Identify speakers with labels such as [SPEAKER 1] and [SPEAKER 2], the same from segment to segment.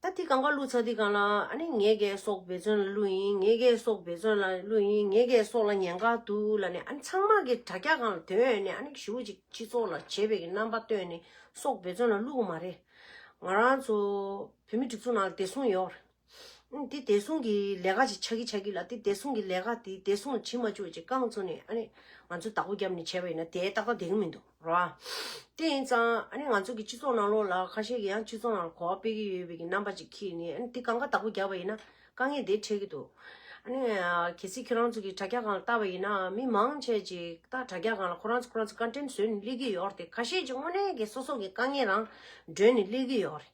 [SPEAKER 1] ད་དེ་གང་ག་བླུ་ཚར་དེ་གང་ལ་ཨ་ནི་ངའི་གའི་སོག་བེ་ཚོན་ལ་བླུ་ཡིན་ངའི་གའི་སོག་བེ་ཚོན་ལ་བླུ་ཡིན་ངའི་གའི་སོག་ལ་ཉན་ག་འདུག་ལ་ནི་ཨ་ནི་ཚང་མ་གི་དྲ་རྒྱ་གང་ལ་དོན་ཡོད་ནི་ཨ་ནི་ཞུ་ཅིག་སྤྱི་ཚོགས་ལ་བྱེད་བེ་གི་རྣམ་པ་སྟོན་ནི་སོག་བེ་ཚོན་ལ་བླུ་གི་མ་རེད་ང་རང་ཚོ་བོད་མི་སྒྲིག་འཛུགས་ནང་ལ་བདེ་སྲུང་ཡོད་རེད་དེ་བདེ་སྲུང་གི་ལས་ཀ་ཅིག་ཆག་གི་ཆག་གི་ལ་དེ་བདེ་སྲུང་གི་ལས་ཀ་དེ་བདེ་སྲུང་ལ་བྱེད་མ་བཅུག་ཅིག་རྐང་ཚུགས་ནི་ཨ་ནི་ང་ཚོ་བདག་པོ་རྒྱབ་ནི་བྱས་པ་ཡིན་ན་དེ་ཏག་ཏག་བདེ་གི་མི་འདུག། ར། དེ་ཡིན་ཙང་ཨ་ནི་ང་ཚོ་གི་སྤྱི་ཚོགས་ནང་ལོགས་ལ་ཁ་ཤས་ཀྱི་ཡང་སྤྱི་ཚོགས་ནང་ལ་གོ་བ་སྤེལ་གྱི་ཡོད་པའི་གྱི་རྣམ་པ་ཅིག་ཁྱེད་ནི་ཨ་ནི་དེ་གང་ག་དག་པོ་རྒྱག་པ་ཡིན་ན་དཀའ་ངལ་དེ་འཕྲད་གྱི་འདུག་ཨ་ནི། གལ་སྲིད་ཁྱོད་རང་ཚོ་གི་དྲ་རྒྱ་གང་ལ་བལྟ་བ་ཡིན་ན་མི་མང་ཆས་ཅིག་ད་དྲ་རྒྱ་གང་ལ་ཁོ་རང་ཚོ་ཁོ་རང་ཚོ་བཀའ་དྲིན་བཟོས་ནས་སླེབས་ཀྱི་ཡོད་རེད་ཁ་ཤས་ཅིག་དངོས་གནས་ཀྱི་སོ་སོ་གི་དཀའ་ངལ་རང་སྒྲོན་ནས་སླེབས་ཀྱི་ཡོད་རེད།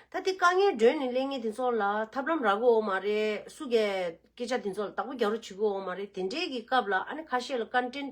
[SPEAKER 1] ད་དེ་དཀའ་ངལ་སྒྲོན་ནས་སླེབས་ངེས་དེ་ཚོ་ལ་ཐབས་ལམ་རག་གི་འོ་མ་རེད་སུ་གས་སྐད་ཆ་དེ་ཚོ་ལ་དག་པོ་རྒྱག་རོགས་བྱེད་གི་འོ་མ་རེད་དེ་འདྲས་ཀྱི་སྐབས་ལ་ཨ་ནི་ཁ་ཤས་ལ་བཀའ་དྲིན།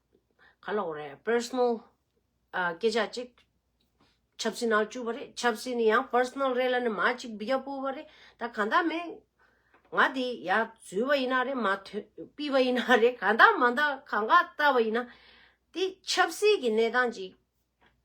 [SPEAKER 1] ག་ལ་འོ་རེད Personal སྐད་ཆ་ཅིག་ཆབ་སྲིད་ནང་བཅུག་པ་རེད་ཆབ་སྲིད་ནི་ཡང Personal རེད་ལ་ནི་མ་ཅིག་བི་རྒྱ་པོ་བ་རེད་ད་ག་འདའ་མེད་ང་དེ་ཡ་བཟོས་བ་ཡིན་ན་རེད་མ་ཐོན་སྤིས་བ་ཡིན་ན་རེད་ག་འདའ་མ་འདའ་ག་འགའ་བལྟ་བ་ཡིན་ན་དེ་ཆབ་སྲིད་ཀྱི་གནས་སྟངས་ཅིག་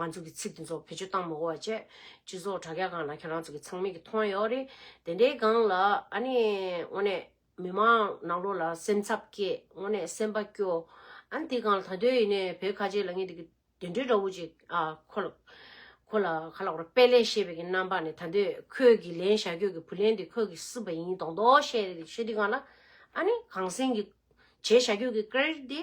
[SPEAKER 1] ང་ཚོ་གི་ཚིག་དེ་ཚོ་བེད་སྤྱོད་བཏང་མི་དགོས་བྱས། སྤྱི་ཚོགས་དྲ་རྒྱ་གང་ན་ཁྱེད་རང་ཚོ་གི་ཚང་མིག་གི་མཐོང་ཡོད་རེད། དེ་འདྲའི་སྒང་ལ་ཨ་ནི་དངོས་ནས་མི་མང་ནང་ལོག་ལ་སེམས་འཚབ་སྐྱེས་དངོས་ནས་སེམས་པ་སྐྱོ། ཨ་ནི་དེ་སྒང་ལ་ད་དོད་ཡིན་ནའི་བོད་ཁ་ཆེ་ལ་ངེད་དེ་གི་དེ་འདྲའི་དགྲ་བོ་ཅིག་ཨ་ཁོ་ལ། ཁོ་ལ་ཁ་ལག་པར་དཔལ་ལས་ཤེས་པའི་གི་རྣམ་པ་ནས་ད་དོད་ཁོས་གི་ལན་བཞག་ཁྱོད་གི་བུ་ལན་དེ་ཁོས་གི་སྲིད་པ་ཡིན་དོག་དོག་བཤད་བཤད་དུས་སྒང་ལ་ཨ་ནི་གང་སེང་གི་བྱས་བཞག་ཁྱོད་གི་ཀེར་དེ་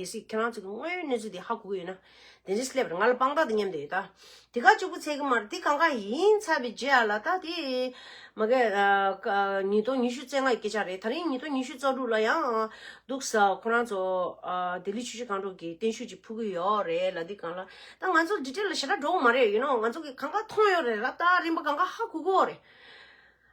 [SPEAKER 1] གལ་སྲིད་ཁྱེད་རང་ཚོ་གི་དངོས་ཡོད་གནས་ཚུལ་དེ་ཧ་གོ་གི་ཡོད་ན། དེ་འདྲའི་སླེབས་རེད་ང་ལ་དཔང་རྟགས་དེ་མཉམ་དུ་ཡོད་ད། དེ་ག་ཅིག་པུ་ཚད་ཀྱི་མ་རེད་དེ་གང་གང་ཡིན་ཚ་བའི་རྗེས་ཨ་ལ་ད་དེ། མ་གལ། ཉིས་སྟོང་ཉི་ཤུ་ཚེ་ལྔ་ཡི་སྐད་ཆ་རེད་ད་རིང་ཉིས་སྟོང་ཉི་ཤུ་རྩ་དྲུག་ལ་ཡང། འདུག་ས་ཁོ་རང་ཚོ། ལྡི་ལི་ཆུ་བཞི་སྒང་དྲུག་གི་བརྟན་བཞུགས་ཅིག་ཕུལ་གི་ཡོད་རེད་ལ་དེ་གང་ལ། ད་ང་ཚོ་འདི་གྲས་ལ་ཞེ་དྲག་འགྲོ་གི་མ་རེད་ཡུ་ནོ་ང་ཚོ་གི་གང་གང་མཐོང་ཡོད་རེད་ལ་ད་རིམ་པ་གང་གང་ཧ་གོ་གི་ཡོད་རེད།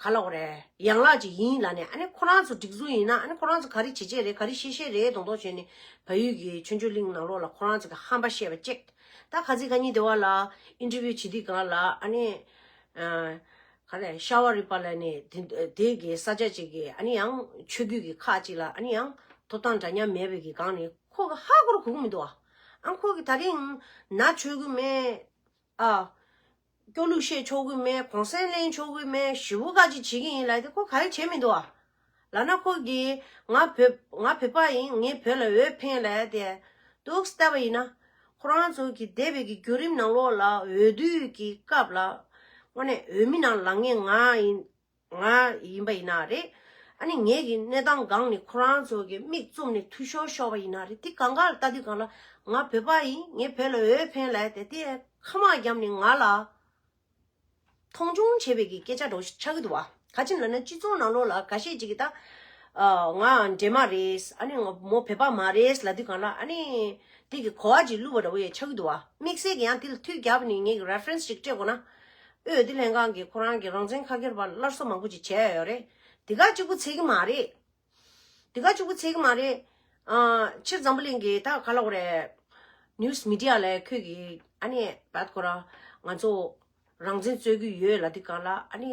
[SPEAKER 1] ག་ལོག་རེད་ཡང་ལག་ཅིག་ཡིན་ལ་ནས་ཨ་ནི་ཁོ་རང་ཚོ་སྒྲིག་འཛུགས་ཡིན་ན་ཨ་ནི་ཁོ་རང་ཚོ་ག་རེ་བྱེད་བྱེད་རེད་ག་རེ་བཤད་བཤད་རེད་མདོག་མདོག་བྱས་ནས་བལ་ཡུལ་གྱི་ཆོས་འབྱོར་གླིང་ནང་ལོག་ལ་ཁོ་རང་ཚོ་གི་ཧམ་པ་བཤད་པ་ཅེག་ད་ག་ཚིག་ག་གཉིས་དེ་བ་ལ interview བྱེད་དུས་གང་ལ་ཨ་ནི་ག་རེ་ཤ་བ་རི་པ་ལ་ནས་དེ་གི་ས་ཆ་ཅིག་གི་ཨ་ནི་ཡང་ཆོས་རྒྱུད་ཀྱི་ཁག་ཅིག་ལ་ཨ་ནི་ཡང་ཐོབ་ཐང་འདྲ་མཉམ་མེད་པའི་གི་གང་ནས་ཁོ་གི་ཧ་གོ་རུ་གོ་གི་མི་འདུག་ཨ་ཁོ་གི་ད་རིང་ན་ཆོས་གོས་མེད། ཨ། སྐྱོ་ལུགས་བཤད་ཆོག་གི་མེད་གོང་གསལ་གླེང་ཆོག་གི་མེད་ཞི་བུ་ཁ་ཅིག་བྱེད་ཀྱི་ཡིན་ལབ་དེ་ཁོ་ག་རེ་བྱེད་མི་འདུག་ཨ། ལ་ན་ཁོ་གིས་ང་བོད་ང་བོད་པ་ཡིན་ངས་བོད་ལ་འོས་འཕེན་ལབ་དེ་འདུག་བསྟབས་པ་ཡིན་ན། ཁོ་རང་ཚོ་གི་འདས་པའི་གི་བརྒྱུད་རིམ་ནང་ལོགས་ལ་འོས་བསྡུའི་གི་སྐབས་ལ། དངོས་གནས་འོས་མི་རྣམས་ལ་ངས་ང་ཡིན་ང་ཡིན་པ་ཡིན་ན་རེད། ཨ་ནི་ངེད་ཀྱི་གནས་སྟངས་སྒང་ནི་ཁོ་རང་ཚོ་གི་མིག་བཙུམ་ནས་ཐུ་ཤོར་ཤོར་བ་ཡིན་ན་རེད་དེ་གང་ག་ལ་ལྟ་དུས་གང་ལ་ང་བོད་པ་ཡིན་ངས་བོད་ལ་འོས་འཕེན་ལ་དེ་ལྟའི་ཁ་མང་རྒྱབ་ནས་ང་ལ་མཐོང་ཆུང་བྱེད་པའི་གི་སྐད་ཆ་སྒྲོག་ཤིག་ཆགས་གི་འདུག་བ་ག་ཅིན་ལ་ན་སྤྱི་ཚོགས་ནང་ལོགས་ལ་ག་ཤེད་ཅིག་གི་ད་ང་འདྲེ་མ་རེད་ཨ་ནི་ང་མོ་བོད་པ་མ་རེད་ལ་དུས་གང་ལ་ཨ་ནི་དེ་གི་གོ་བ་ཅིག་བླུགས་པ་འདྲ་བོ་ཡོད་ཆགས་གི་འདུག་བ་དམིགས་བསལ་གི་ཡང་དེ་ལ་ཐུགས་རྒྱབ་ནས་ངེད་ཀྱི reference ཅིག་སྤྲད་དགོས་ན་ཨོས་དེ་ལྷན་ཁང་གིས་ཁོ་རང་གི་རང་བཙན་ཁ་ཁེར་བར་སླར་གསོ་མང་པོ་ཅིག་བྱས་ཡོད་རེད། དེ་ག་གཅིག་པུ་ཚད་ཀྱི་མ་རེད། དེ་ག་གཅིག་པུ་ཚད་ཀྱི་མ་རེད། ཕྱིར་འཛམ་བུ་གླིང་གི་ད་ག་ལ་བོ་རེད། News Media ལས་ཁྱོད་ཀྱིས་ཨ་ནི་བད་ཁོ་རང་ང་ཚོ་རང་བཙན་རྩོད་ཀྱི་ཡོད་ལ་དེ་ག་ལ་ཨ་ནི།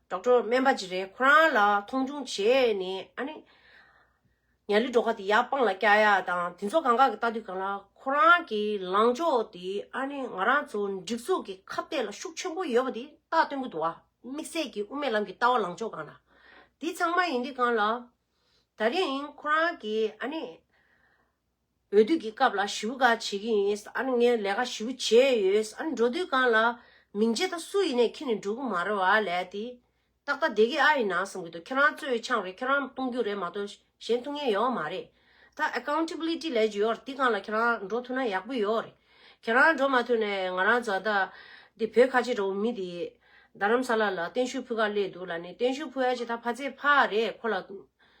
[SPEAKER 1] གྲོགས་པོ་སྨན་པ་ཅིག་རེད་ཁོ་རང་ལ་མཐོང་ཆུང་བྱས་ནས་ཨ་ནི། ཉའ་ལི་འབྲོག་ཁ་དེ་ཡར་སྤང་ལ་སྐྱ་ཡ་དང་དེ་ཚོ་གང་ག་གི་ལྟ་དུས་གང་ལ་ཁོ་རང་གི་ལངས་ཕྱོགས་དེ་ཨ་ནི་ང་རང་ཚོ་འགྲིག་འཛུགས་ཀྱི་ཁ་བཏད་ལ་ཤུགས་ཆེན་པོ་ཡོད་པ་དེ་རྟགས་སྟོན་པོ་འདུག་ཨ་དམིགས་བསལ་གྱི་དབུ་མའི་ལམ་གྱི་ལྟ་བ་ལངས་ཕྱོགས་གང་ལ་དེ་ཚང་མ་ཡིན་དུས་གང་ལ། ད་རིང་ཁོ་རང་གི་ཨ་ནི། འོས་བསྡུ་གི་སྐབས་ལ་ཞུ་ག་བྱེད་ཀྱི་ཡིན་ཨ་ནི་ངས་ལས་ཀ་ཞུ་བྱས་ཡོད་ཨ་ནི་འགྲོ་དུས་གང་ལ་མིང་བརྗེ་ད་སུ་ཡིན་ནས་ཁྱེད་ནི་འགྲོ་གི་མ་རེད་བ་ལས་དེ་ཏག་ཏག་བསྡད་ཀྱི་ཨ་ཡིན་ན་བསམ་གྱི་འདུག་ཁྱེད་རང་གཙོས་ཆང་རེད་ཁྱེད་རང་གཏོང་རྒྱུ་རེད་མ་གཏོགས་གཞན་གཏོང་མཁན་ཡོད་མ་རེད་ད Accountability ལས་ཀྱི་ཡོད་རེད་དེ་གང་ལ་ཁྱེད་རང་འགྲོ་ཐུབ་ན་ཡག་པོ་ཡོད་རེད་ཁྱེད་རང་འགྲོ་མ་ཐུབ་ནས་ང་རང་བཟའ་ཟླ་དེ་བོད་ཁ་ཆེ་འདྲ་བོ་མི་དེ་རྡ་རམ་ས་ལ་ལ་གཏན་ཤུལ་ཕུད་ཁ་གླས་འདུག་ལ་ནི་གཏན་ཤུལ་ཕུད་ཨ་ཅེ་ད་ཕ་ཚེ་ཕ་རེད་ཁོ་ལ།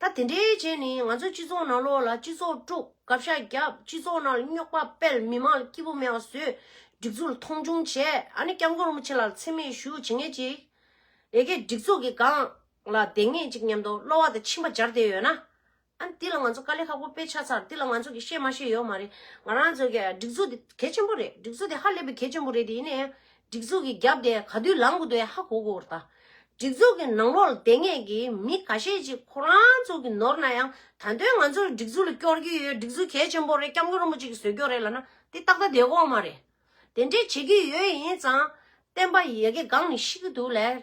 [SPEAKER 1] ད་དེ་འདྲའི་རྗེས་ནས་ང་ཚོའི་སྤྱི་ཚོགས་ནང་ལོག་ལ་སྤྱི་ཚོགས་དཀྲུགས་དགག་བྱ་རྒྱབ་སྤྱི་ཚོགས་ནང་རྙོག་པ་སྤེལ་མི་མང་ལ་སྐྱིད་པོ་མེད་པ་བཟོས་སྒྲིག་འཛུགས་ལ་མཐོང་ཆུང་བྱས་ཨ་ནི་སྐྱབས་མགོན་རིན་པོ་ཆེ་ལགས་ལ་འཚེ་མེད་ཞུ་བྱེད་ངེས་ཅིག་ཡེ་གེ་སྒྲིག་འཛུགས་ཀྱི་སྒང་ལ་བསྡད་ངེས་ཅིག་སྙམ་དོ་གློ་བ་དང་མཆིན་པ་སྦྱར་བསྡད་ཡོད་ན་ཨ་ནི་འདི་ལ་ང་ཚོ་དཀའ་ལས་ཁག་པོ་སྤེལ་ཆགས་ཚར་འདི་ལ་ང་ཚོ་གིས་ཤེས་མ་ཤེས་ཡོད་མ་རེད་ང་རང་ཚོ་གིས་སྒྲིག་འཛུགས་འདི་གལ་ཆེན་པོ་རེད་སྒྲིག་འཛུགས་འདི་ཧ་ལས་པའི་གལ་ཆེན་པོ་རེད་དེ་ཡིན་ནའི་སྒྲིག་འཛུགས་ཀྱི་རྒྱབ་དེ་ག་དུས་ལངས་དགོས་དོན་ཧ་གོ་དགོས་པར་གདའ། སྒྲིག་འཛུགས་ཀྱི་ནང་ལོགས་ལ་བསྡད་ངེས་ཀྱི་མི་ག་ཤེད་ཅིག་ཁོ་རང་ཚོ་གི་ནོར་ན་ཡང་ད་དོན་ང་ཚོར་སྒྲིག་འཛུགས་ལ་སྐྱོར་རྒྱུ་ཡོད་སྒྲིག་འཛུགས་གལ་ཆེན་པོ་རེད་སྐྱབས་མགོན་རིན་པོ་ཆེ་གི་ཟོལ་སྐྱོར་རེད་ལ་ན་དེ་ཏག་ཏག་བསྡད་དགོས་མ་རེད། དེ་འདྲས་བྱེད་ཀྱི་ཡོད་ཡིན་ཙང་བསྟན་པ་ཡི་ཡ་གི་སྒང་ནས་ཤི་གི་འདུག་ལས།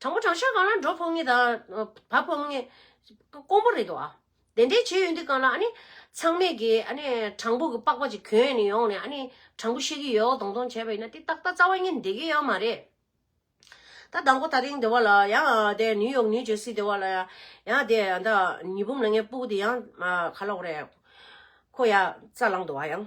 [SPEAKER 1] དྲང་པོ་དྲང་ཤ་གང་ལ་འགྲོ་ཕོག་ངེས་དང་བབ་ཕོག་ངེས། དཀོན་པོ་རེད་ཨ། དེ་འདྲའི་བྱེད་ཡུལ་འདི་གང་ལ་ཨ་ནི། ཚང་མས་ཀྱི་ཨ་ནི་དྲང་པོ་གི་པགས་པ་ཅིག་གྱོན་ནས་ཡོང་ནས་ཨ་ནི་དྲང་པོ་བཤད་ཀྱི་ཡོད་ཨོ་དོང་དོང་བྱས་པ་ཡིན་ན་དེ་ཏག་ཏག་རྩ་བ་ཉིད་འདེགས་ཀྱི་ཡོད་མ་རེད། ད་ཟླ་མགོ་ད་རིང་དེ་བ་ལ་ཡང་དེ་ནིའུ་ཡོག་ནིའུ་ཇེར་སི་དེ་བ་ལ་ཡང་ཡང་དེ་ད་ཉི་འབུམ་ལ་ངའི་སྤུ་གུ་དེ་ཡང་ག་ལ་འོ་རེད། ཁོ་ཡང་རྩ་ལངས་འདུག་ཨ་ཡང།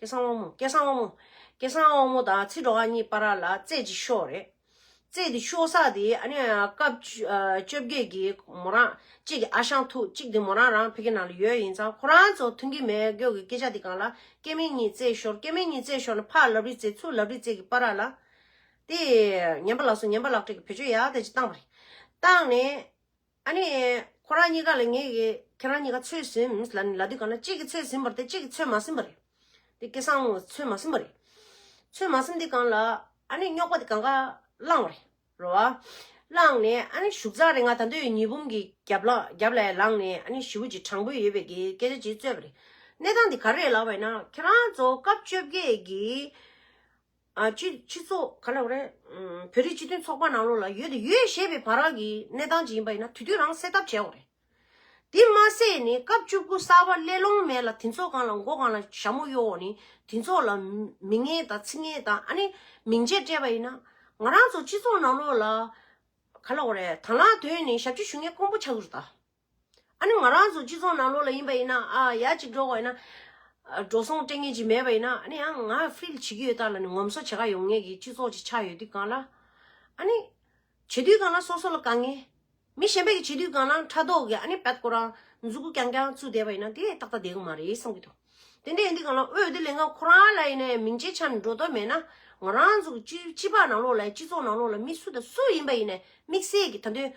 [SPEAKER 1] སྐལ་བཟང་དབང་མོ། སྐལ་བཟང་དབང་མོ། སྐལ་བཟང་དབང་མོ་དང་ཚེ་འགྲོ་ཨ་གཉིས་པ་ར་ལ་རྩེད་ཅིག་ཤོག་རེད། རྩེད་དེ་ཤོག་ས་དེ་ཨ་ནི་སྐབས་བཅོ་བརྒྱད་ཀྱི་མོ་རང་གཅིག་གི་ཨ་ཞང་ཐུག་གཅིག་དེ་མོ་རང་རང་ཕེ་ཁེ་ནང་ལ་ཡོད་ཡིན་ཙང་ཁོ་རང་ཚོ་མཐུན་གི་མེད་སྒོས་ཀྱི་སྐད་ཆ་དེ་གང་ལ་སྐལ་མེད་གཉིས་རྩེད་ཤོར་སྐལ་མེད་གཉིས་རྩེད་ཤོར་ནས་ཕར་ལབ་རི་རྩེད་ཚུར་ལབ་རི་རྩེད་ཀྱི་པ་ར་ལ་དེ་ཉན་པ་ལགས་སོ་ཉན་པ་ལགས་བཀྲིས་ཀྱི་བེད་སྤྱོད་ཡག་ཐད་ཅིག་བཏང་པ་རེད་བཏང་ནས། ཨ་ནི། ཁོ་རང་གཉིས་ཀ་ལ་ངས་ཁྱེད་རང་གཉིས་ཀ་ཚོད་ཟིན་ལ་ནི་ལ་དུས་གང་ན་གཅིག་གིས་ཚོད་ཟིན་པར་དེ་གཅིག་གིས་ཚོད་མ་ཟིན་པ་རེད། དེ་སྐད་སང་ངོ་ཚོད་མ་ཟིན་པ་རེད། ཚོད་མ་ཟིན་དེ་གང་ལ་ཨ་ནི་རྙོག་པ་དེ་གང་ག་བསླངས་བ་རེད། རེད་བ། བསླངས་ནས་ཨ་ནི་བཞུགས་ཚར་རེད་ང་ད་འདོད་ཉི་འབུམ་གྱི་རྒྱབ་ལ་རྒྱབ་ལས་ལངས་ནས་ཨ་ནི་ཞི་བུ་ཅིག་དྲང་པོ་ཡོད་པའི་གི་སྐད་ཆ་ཅིག་རྩོད་པ་རེད། གནས་སྟངས་དེ་ག་རེད་ལབ་བ་ཡིན་ན་ཁྱེད་རང་ཚོ་སྐབས་བཅོ་བརྒྱད་ཀྱི་སྤྱི་ཚོགས་ག་ལ་བ་རེད། བོད་རིགས་སྤྱི་མཐུན་ཚོགས་པ་ནང་ལོགས་ལ་ཡོད་དེ་ཡོད་ཞེས་པའི་བར་རག་གི་གནས་སྟངས་ཅིག་ཡིན་པ་ཡིན་ན་དུས་དུས་རང་སེལ་ཐབས་བྱས་འོ་རེད། དེ་མ་ཟད་ནི་སྐབས་བཅུ་དགུ་གསར་བ་སླེ་ལོང་མེད་ལ་དེ་ཚོ་གང་ལ་མགོ་གང་ལ་ཞྭ་མོ་གཡོ་འོག་ནི་དེ་ཚོ་ལ་མི་ངན་དང་ཚིག་ངན་དང་ཨ་ནི་མིང་ཆད་སྤྲད་པ་ཡིན་ན། ང་རང་ཚོ་སྤྱི་ཚོགས་ནང་ལོགས་ལ་ག་ལ་བ་རེད་དང་ལ་དོན་ནི་ཞབས་ཕྱི་ཞུ་མཁན་དཀོན་པོ་ཆགས་ཚུལ་དང། ཨ་ནི་ང་རང་ཚོ་སྤྱི་ཚོགས་ནང་ལོགས་ལ་ཡིན་པ་ཡིན་ན་ཨ་ཡག་གཅིག་འགྲོ་བ་ཡིན་ན། འགྲོ་སོང་སྤྲད་ངེས་ཅིག་མེད་པ་ཡིན་ན་ཨ་ནི་ཡང་ང་ཧྥིལ་བྱེད་ཀྱི་ཡོད་དག་ལ་ནི་ངོམ་སོ་བྱེད་ག་ཡོང་ངེས་ཀྱི་སྤྱི་ཚོགས་ཅིག་ཆགས་ཡོད་དུས་གང་ལ། ཨ་ནི། བྱེད་དུས་གང་ལ་སོ་སོ་ལ་དགའ་ངེས། མི་གཞན་པའི་གི་བྱེད་དུས་གང་ལའང་ཕྲ་དོག་གི་ཨ་ནི་བད་ཀོ་རང་མཛུ་གུ་རྐྱང་རྐྱང་བཙུགས་བསྡད་པ་ཡིན་ན་དེ་ཏག་ཏག་བསྡད་གི་མ་རེད་བསམ་གྱི་འདུག། དེ་འདྲའི་ཡིན་དུས་གང་ལ་འོས་བསྡུ་ལས་འགན་ཁོ་རང་ལ་ཡིན་ནའི་མིང་ཅན་ཆ་ནས་འགྲོ་དོན་མེད་ན་ང་རང་ཚོ་སྤྱི་སྤྱི་པའི་ནང་ལོགས་ལ་ཡི་སྤྱི་ཚོགས་ནང་ལོགས་ལ་མི་སུ་དང་སུ་ཡིན་པ་ཡིན་ནའི་དམིགས་བསལ་གྱི་ད་དོན་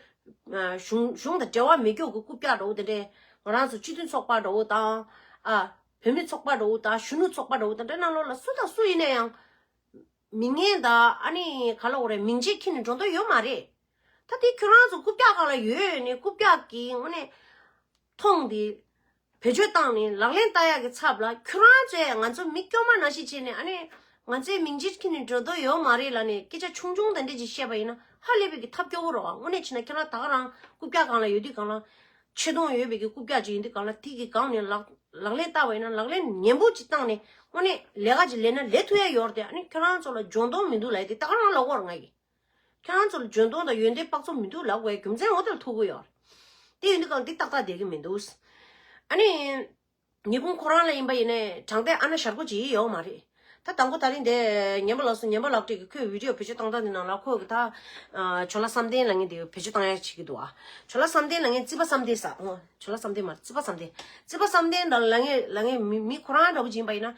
[SPEAKER 1] གཞུང་གཞུང་དང་འབྲེལ་བ་མི་འགྱོག་གི་རྐུབ་བཀྱག་འདྲ་བོ་དེ་འདྲའི་ང་རང་ཚོ་སྤྱི་མཐུན་ཚོགས་པ་འདྲ་བོ་དང་ཨ་བོད་མི་ཚོགས་པ་འདྲ་བོ་དང་གཞོན་ནུ་ཚོགས་པ་འདྲ་བོ་དང་འདྲ་ནང་ལོགས་ལ་སུ་དང་སུ་ཡིན་ནའི་ཡང་མི་ངན་དང་ཨ་ནི་ག་ལོགས་རེད་མིང་ཅན་ཁྱེར་ནས་འགྲོ་འདོད་ཡོད་མ་རེད་ད་དེ་ཁྱོད་རང་ཚོ་རྐུབ་བཀྱག་གང་ལ་ཡོད་ནི་རྐུབ་བཀྱག་གི་དངོས་གནས། ཐོངས་འདི། བེད་སྤྱོད་བཏང་ནས་ལག་ལེན་བསྟར་ཡག་གི་ཚབ་ལ་ཁྱོད་རང་ཚོས་ང་ཚོ་མི་སྐྱོ་མ་ན་ཞིག་བྱས་ནས་ཨ་ནི། ང་ཚོའི་མིང་ཅི་ཁྱི་ནི་འགྲོ་འདོད་ཡོད་མ་རེད་ལ་ནི་སྐད་ཆ་ཆུང་ཆུང་དེ་འདྲས་ཅིག་བཤད་པ་ཡིན་ན་ཧ་ལས་པའི་གི་ཐབས་སྐྱོ་བོ་རོགས་ཨ་དངོས་གནས་བྱས་ན་ཁྱོད་རང་ད་ག་རང་རྐུབ་བཀྱག་གང་ལ་ཡོད་དུས་གང་ལ། ཆེ་མཐོང་ཡོད་པའི་གི་རྐུབ་བཀྱག་ཅིག་ཡིན་དུས་གང་ལ་ཐིག་གི་སྒང་ནས་ལག་ལག་ལེན་བསྟར་བ་ཡིན་ན་ལག་ལེན་ནན་པོ་ཅིག་བཏང་ནས་དངོས་གནས་ལས་ཀ་ཅིག་ལས་ན་ལས་ཐུ་ཡ་ཡོར་དེ་ཨ་ནི་ཁྱོད་རང་ཚོ་ལ་འཇོན་མདོག་མི་འདུག་ལ་ཡི་དེ་ད་ག་རང་ལ་བོར་ང་གིས། ཁྱོད་རང་ཚོ་ལ་འཇོན་ཐང་དང་ཡོན་ཏན་དཔག་ཚོམ་མི་འདུག་ལབ་བའི་རྒྱུ་མཚན་ངོ་དེ་ལ་ཐུག་གི་ཡོད། དེ་ཡོད་ན་ཀང་འདི་ཏག་ཏག་བསྡད་ཀི་མི་འདུག། ཨ་ནི། ཉེས་ཕུང་ཁོ་རང་ལ་ཡིན་པ་ཡིན་ནས་དྲང་བདེན་ཨ་ན་ཞར་སྒོ་འབྱེད་ཡི་ཡོག་མ་རེད། ད་དང་པོ་ད་རིང་འདས་ཉན་པ་ལགས་སོ་ཉན་པ་ལགས་དྲིས་ཀི་ཁོས་བིདེའོ་བེད་སྤྱོད་བཏང་སྟངས་འདི་ནང་ལ་ཁོ་གི་ད། བྱོ་ལ་བསམ་གཏན་ལ་ངས་འདི་བེད་སྤྱོད་བཏང་ཡག་བྱེད་ཀི་འདུག་ཨ། བྱོ་ལ་བསམ་གཏན་ལ་ངས་རྩིས་པ་བསམ་གཏན་ཟ་ཨོ། བྱོ་ལ་བསམ་གཏན་མ་རེད་རྩིས་པ་བསམ་གཏན། རྩིས་པ་བསམ་གཏན་ལ་ངས་ལ་ངས་མི་མི་ཁོ་རང་འདྲ་པོ་སྦྱིན་པ་ཡིན་ན།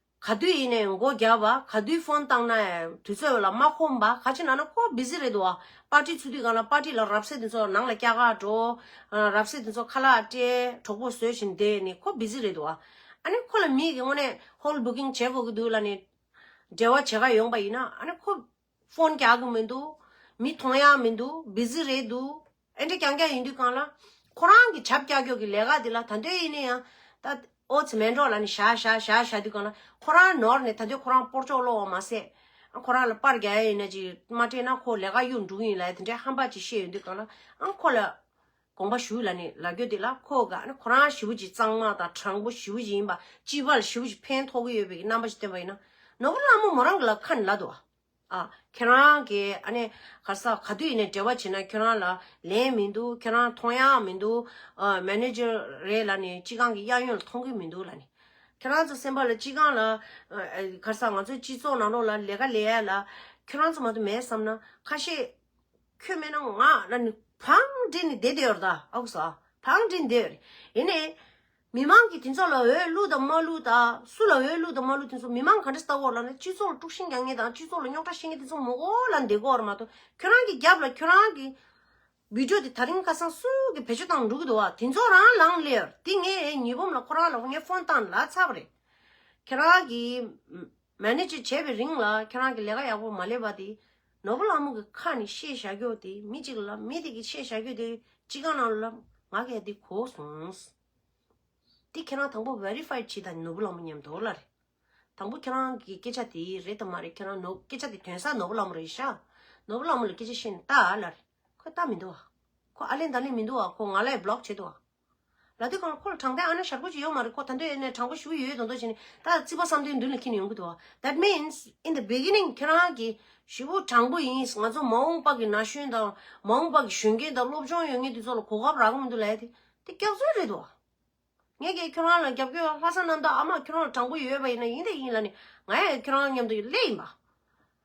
[SPEAKER 1] ག་དུས་ཡིན་ནས་མགོ་བརྒྱབ་པ་ག་དུས་ཕོན་བཏང་ན་དུས་ཚོད་ལ་མ་ཁོམ་པ་ག་ཅི་ན་ན་ཁོ་བིཟི་རེད་འདུག་བ་པར་ཏྲི་ཚུགས་དུས་གང་ལ་པར་ཏྲི་ལ་རབ་བསད་དེ་ཚོ་ནང་ལ་སྐྱ་ག་འགྲོ་རབ་བསད་དེ་ཚོ་ཁ་ལག་སྤྲད་གྲོགས་པོ་བཟོས་བཞིན་བསྡད་ནི་ཁོ་བིཟི་རེད་འདུག་བ་ཨ་ནི་ཁོ་ལ་མིག་གི་སྔོན་ནས་ཧོལ་བུ་ཀིང་བྱེད་དགོས་ཀྱི་འདུག་ལ་ནི་འབྲེལ་བ་བྱེད་ག་ཡོང་པ་ཡིན་ན་ཨ་ནི་ཁོ། ཕོན་རྒྱག་གི་མི་འདུག་མི་མཐོང་ཡག་མི་འདུག Busy རེད་འདུག་ཨེ་འདྲ་ཀྱང་ཀྱང་ཡིན་དུས་གང་ལ། ཁོ་རང་གི་བྱབ་ཀྱག་ཀྱོག་གི་ལས་ཀ་འདི་ལ་ད་འདོད་ཡེ་ནས་ཡང། ད་ཨོ་ཚེ་མན་གྲོགས་ལ་ནི་བྱ་བྱ་བྱ་བྱ་དུས་གང་ལ། ཁོ་རང་ནོར་ནས་ད་འདོད་ཁོ་རང་སྤོར་ཅོག་ལོག་འོང་མ་ཟད། ཨང་ཁོ་རང་ལ་པར་རྒྱག་ཡ་ཡིན་ན་ཅིག་མ་སྤྲད་ན་ཁོ་ལས་ཀ་གཡུག་འགྲུག་ཡིན་ལ་ཡ་དེ་འདྲའི་ཧམ་པ་ཅིག་བཤད་ཡོད་དུས་གང་ལ། ཨང་ཁོ་ལ། དགོངས་པ་ཞུ་ལ་ནི་ལ་རྒྱོ་དེ་ལ་ཁོ་དགའ་ན་ཁོ་རང་ཞི་བུ་གཅིག་གཙང་མ་དང་དྲང་པོ་ཞི་བུ་གཅིག་ཡིན་པ་སྤྱི་བ་ལ་ཞི་བུ་གཅིག་ཕན་ཐོགས་ཀྱི་ཡོད་པའི་རྣམ་པ་ཞིག་བསྟན་པ་ཡིན་ན་ནོར་བུ་ལྷ་མོ་མོ་རང་གི་ལ་ཁ་ནི་ལ་དུ་བ་ཨ་ཁྱེད་རང་གི་ཨ་ནེ་ག་ས་ག་དུས་ཡིན་ནའི་འབྲེལ་བ་བྱས་ན་ཁྱོད་རང་ལ་ལན་མི་འདུག་ཁྱོད་རང་མཐོང་ཡག་མི་འདུག་ཨ Manager རེད་ལ་ནི་སྤྱི་ཁང་གི་གཡག་ཡོན་ལ་མཐོང་གི་མི་འདུག་ལ་ནི་ཁྱོད་རང་ཚོ་སེམས་པ་ལ་སྤྱི་ཁང་ལ་ག་ས་ང་ཚོའི་སྤྱི་ཚོགས་ནང་ལོགས་ལ་ལས་ཀ་ལས་ཡ་ལ་ཁྱོད་རང་ཚོ་མ་དུ་མས་བསམ་ན་ཁ་ཤས། ཁྱོད་མེད་ན་ང་ན་ནི་བང་སྒྲིག་ནི་བསྡད་དེ་ཡོད་རེད་ད་ཨ་ཁུ་ཟ། བང་སྒྲིག་ནི་བསྡད་ཡོད་རེད། ཡིན་ནས། མི་མང་གིས་དེ་ཚོ་ལ་འོས་བླུགས་དང་མ་བླུགས་ད་སུ་ལ་འོས་བླུགས་དང་མ་བླུགས་དེ་ཚོ་མི་མང་ག་འདྲ་ལྟ་བོར་ལ་ན་སྤྱི་ཚོགས་ལ་དཀྲུགས་ཤིང་རྒྱག་ངེས་དང་སྤྱི་ཚོགས་ལ་རྙོག་དྲ་བཤད་ངེས་དེ་ཚོ་མོ་གོ་ལ་འདེ་གོ་བར་མ་དོ་ཁྱོད་རང་གི་རྒྱབ་ལ་ཁྱོད་རང་གི། བིད་འགྲོ་དེ་ད་རིང་ཁ་སང་སུ་གི་བེད་སྤྱོད་བཏང་འགྲོ་གི་འདུག་བ་དེ་ཚོ་རང་ལང་སླེ་ཡོད་རེད་དེ་ངས་ཉི་འབུམ་ལ་ཁོ་རང་ལ་ངས་ཧྥོན་བཏང་ལ་ཚར་བ་རེད། ཁྱོད་རང་གི། མཱེ་ནེ་ཇེ་བྱས་པའི་རིང་ལ་ཁྱེད་རང་གི་ལས་ཀ་ཡག་པོ་མ་ལས་པ་དེ། ནོར་བུ་ལྷ་མོ་གི་ཁ་ནས་ཤེས་བྱ་རྒྱོགས་དེ་མི་གཅིག་ལབ་མི་དེ་གི་ཤེས་བྱ་རྒྱོད་དེ་གཅིག་གང་ན་ལབ་ང་གས་དེ་གོ་སོང། དེ་ཁྱེད་རང་དང་པོ Verified བྱེད་དང་ནོར་བུ་ལྷ་མོ་ཉམས་དོག་ལ་རེད། དང་པོ་ཁྱེད་རང་གི་སྐད་ཆ་དེ་རེད་དམ་མ་རེད་ཁྱེད་རང་ནོར་སྐད་ཆ་དེ་དོན་ས་ནོར་བུ་ལྷ་མོ་རེད་ཤག་ནོར་བུ་ལྷ་མོ་ལ་སྐད་ཆ་བཤད་ནས་ལྟ་ལ་རེད་ཁོས་ལྟ་མི་འདུག་བ་ཁོ་ཨ་ལེན་ད་ལེན་མི་འདུག་བ་ཁོ་ང་ལ་ཡི Block བྱེད་འདུག་བ། ལ་དེ་ཁོང་ཁོ་ལ་དྲང་བདེན་ཨ་ན་ཞར་གོ་ཅི་ཡོད་མ་རེད་ཁོ་ད་འདོད་ཨེ་ན་དྲང་པོ་ཞུ་ཡོད་ཡོད་མདོག་མདོག་བྱས་ནས་ད་བརྩིས་པ་བསམ་དོན་མདུན་ལ་འཁྱིལ་ནས་ཡོང་གི་འདུག that means in the beginning ཁྱེད་རང་གི་ཞུ་བོ་དྲང་པོ་ཡིན་ང་ཚོ་མ་འོངས་པ་གི་ན་གཞོན་དང་མ་འོངས་པ་གི་གཞོན་སྐྱེས་དང་སློབ་སྦྱོང་ཡོད་ངེས་དེ་ཚོ་ལ་གོ་སྐབས་རག་གི་མི་འདུག་ལད་དེ་དེ་སྐྱག་རྫུན་རེད་དོ། ངས་ཀྱི་ཁྱེད་རང་ལ་རྒྱབ་སྐྱོར་ཡོད་ལྷ་ས་གནམ་བདག་ཨ་མ་ཁྱེད་རང་ལ་དྲང་པོ་ཡོད་པ་ཡིན་ན་ཡིན་དེ་ཡིན་ལ་ནི་ང་ཡང་ཁྱེད་རང་མཉམ་དུ་ཡོད་སླད་ཡིན་པ།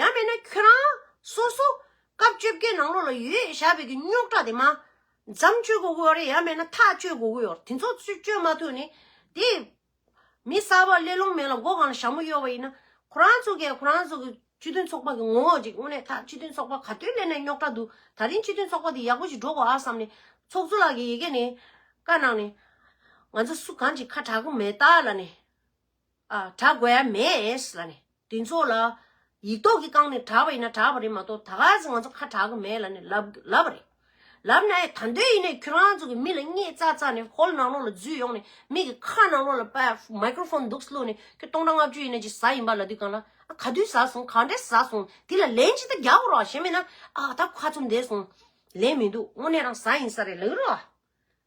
[SPEAKER 1] ཡང་མེད་ན་ཁྱོད་རང་སོ་སོ་སྐབས་བཅོ་བརྒྱད་ནང་ལོགས་ལ་ཡོད་ཞགས་པའི་གི་རྙོག་དྲ་དེ་མ་འཇམ་བཅོས་དགོས་གོ་རེད་ཡང་མེད་ན་ཐག་བཅོས་དགོས་གོ་དེ་ཚོ་བཅོས་མ་ཐུབ་ནི་དེ་མི་གསར་བ་གླེ་ལོང་མེད་ལ་མགོ་གང་ལ་ཞྭ་མོ་གཡོག་པ་ཡིན་ན་ཁོ་རང་ཚོ་གས་ཁོ་རང་ཚོ་གི་སྤྱི་མཐུན་ཚོགས་པ་གི་ངོ་བོ་ཅིག་དངོས་གནས་ད་སྤྱི་མཐུན་ཚོགས་པ་ག་དུས་སླེབས་ནས་རྙོག་དྲ་འདུག་ད་རིང་སྤྱི་མཐུན་ཚོགས་པ་དེ་ཡག་པོ་ཞིག་འགྲོ་དགོས་ཨ་བསམ་ནི་ཚོགས་གཙོ་ལགས་ཀྱི་ཡི་གེ་ནི་བཀའ་གནང་ནི་ང་ཚོ་སུ་གང་ཅིག་ཁ་གྲག་གི་མེད་ད་ལ་ནི། གྲགས་དགོས་ཡ་མེད། ལ་ནི། དེ་ཚོ་ལ། ཡིག་ཐོག་གི་རྐང་ནས་གྲགས་པ་ཡིན་ན་གྲགས་པ་རེད་མ་གཏོགས་ད་གཟིག་ང་ཚོ་ཁ་གྲགས་ཀྱི་མེད་ལ་ནི་ལབ་ལབ་རེད། ལབ་ན་ཡང་ད་འདོད་ཡིན་ནའི་ཁྱོད་རང་ཚོ་གི་མི་ལ་སྙད་རྩ་རྩ་ནས་ཧོལ་ནང་ལོག་ལ་འཛུལ་ཡོང་ནས་མིག་གི་ཁ་ནང་ལོག་ལ་པད Microphone འདུག་བླུགས་ནས་ཁྱོད་སྟོང་ཕྲག་ལྔ་བཅུ་ཡིན་ནའི་ཅི་ཟ་ཡིན་པ་ལ་དུས་གང་ལ་ཨ་ག་དུས་ཟ་སོང་ག་འདྲས་ཟ་སོང་དེ་ལ་ལན་ཅི་ལྟར་རྒྱག་དགོས་རོགས་ཞེས་སྨྲས་ན་ཨ་ད་ཁ་ཚུམས་བསྡད་སོང་ལན་མི་འདུག་དངོས་གནས་རང་ཟ་ཡིན་ས་རེད་ལགས་རོགས།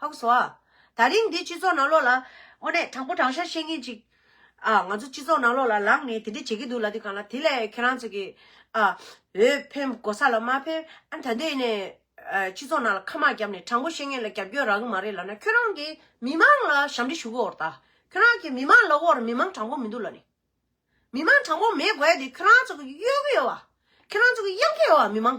[SPEAKER 1] ཧ་གོ་སོ། ད་རིང་འདི་སྤྱི་ཚོགས་ནང་ལོགས་ལ། དངོས་གནས་དྲང་པོ་དྲང་ཤར་བཤད་མཁན་ཅིག། ཨ། ང་ཚོ་སྤྱི་ཚོགས་ནང་ལོགས་ལ་ལངས་ནས་དེ་འདྲས་བྱེད་ཀྱི་འདུག་ལ་དེ་གང་ལ་དེ་ལས་ཁྱེད་རང་ཚོ་གིས། ཨ། འོས་འཕེན་གོ་ས་ལ་མ་འཕེན། ཨ། ད་འདི་ནས། སྤྱི་ཚོགས་ནང་ལ་ཁ་མག་བརྒྱབ་ནས་དྲང་པོ་བཤད་མཁན་ལ་རྒྱབ་སྐྱོར་རག་གི་མ་རེད་ལབ་ན་ཁྱོད་རང་གིས་མི་མང་ལ་ཞབས་འདྲི་ཞུ་གི་འོར་ད། ཁྱོད་རང་གིས་མི་མང་ལབ་འོར་མི་མང་དྲང་པོ་མི་འདུག་ལ་ནི། མི་མང་དྲང་པོ་མེད་དགོས་དེ་ཁྱོད་རང་ཚོ་གིས་གཡོལ་གི་ཡོད་བ། ཁྱོད་རང་ཚོ་གིས་གཡང་གི་ཡོད་བ་མི་མང།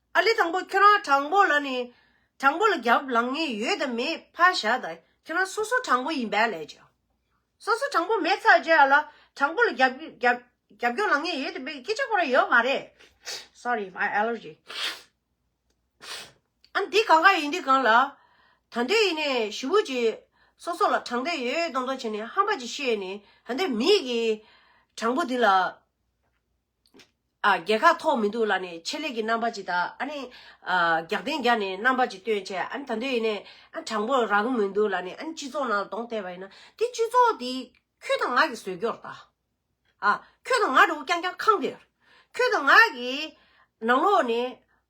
[SPEAKER 1] ཨ་ལེ་དང་པོ་ཁྱོད་རང་དྲང་པོ་ལ་ནི་དྲང་པོ་ལ་རྒྱབ་ལངས་ངེས་ཡོད་དམ་མེད་ཕ་བཞག་ད་ཁྱོད་རང་སོ་སོ་དྲང་པོ་ཡིན་པས་ལས་བྱོས་སོ་སོ་དྲང་པོ་མེད་ཚར་རྗེས་ཨ་ལ་དྲང་པོ་ལ་རྒྱབ་རྒྱོག་ལངས་ངེས་ཡོད་དམ་མེད་སྐད་ཆ་གོ་ར་ཡོད་མ་རེད Sorry my allergy ཨ་འདི་གང་ག་ཡིན་འདི་གང་ལ་ད་འདོད་ཡིན་ནས་ཞི་བུ་གྱིས་སོ་སོ་ལ་དྲང་འདོད་ཡོད་མདོག་མདོག་བྱས་ནས་ཧམ་པ་ཅིག་བཤད་ནས་ད་འདོད་མིག་གིས་དྲང་པོ་འདི་ལ་ཨ། རྒྱལ་ཁ་ཐོག་མི་འདུག་ལ་ནི་ཆེད་ལས་ཀྱི་རྣམ་པ་ཅིག་དང་ཨ་ནི། རྒྱག་རྟེན་བརྒྱ་ནི་རྣམ་པ་ཅིག་སྟོན་ཆེད་ཨ་ནི་ད་འདོད་ཡིན་ནས་ཨ་དྲང་པོ་རག་གི་མི་འདུག་ལ་ནི་ཨ་ནི་སྤྱི་ཚོགས་ནང་ལ་གདོང་གཏད་པ་ཡིན་ན་དེ་སྤྱི་ཚོགས་དེ་ཁྱོད་དང་ང་གི་ཟོལ་སྐྱོར་དང་ཨ། ཁྱོད་དང་ང་འདྲ་བོ་རྐྱང་རྐྱང་ཁང་དེར། ཁྱོད་དང་ང་གི་ནང་ལོགས་ནི་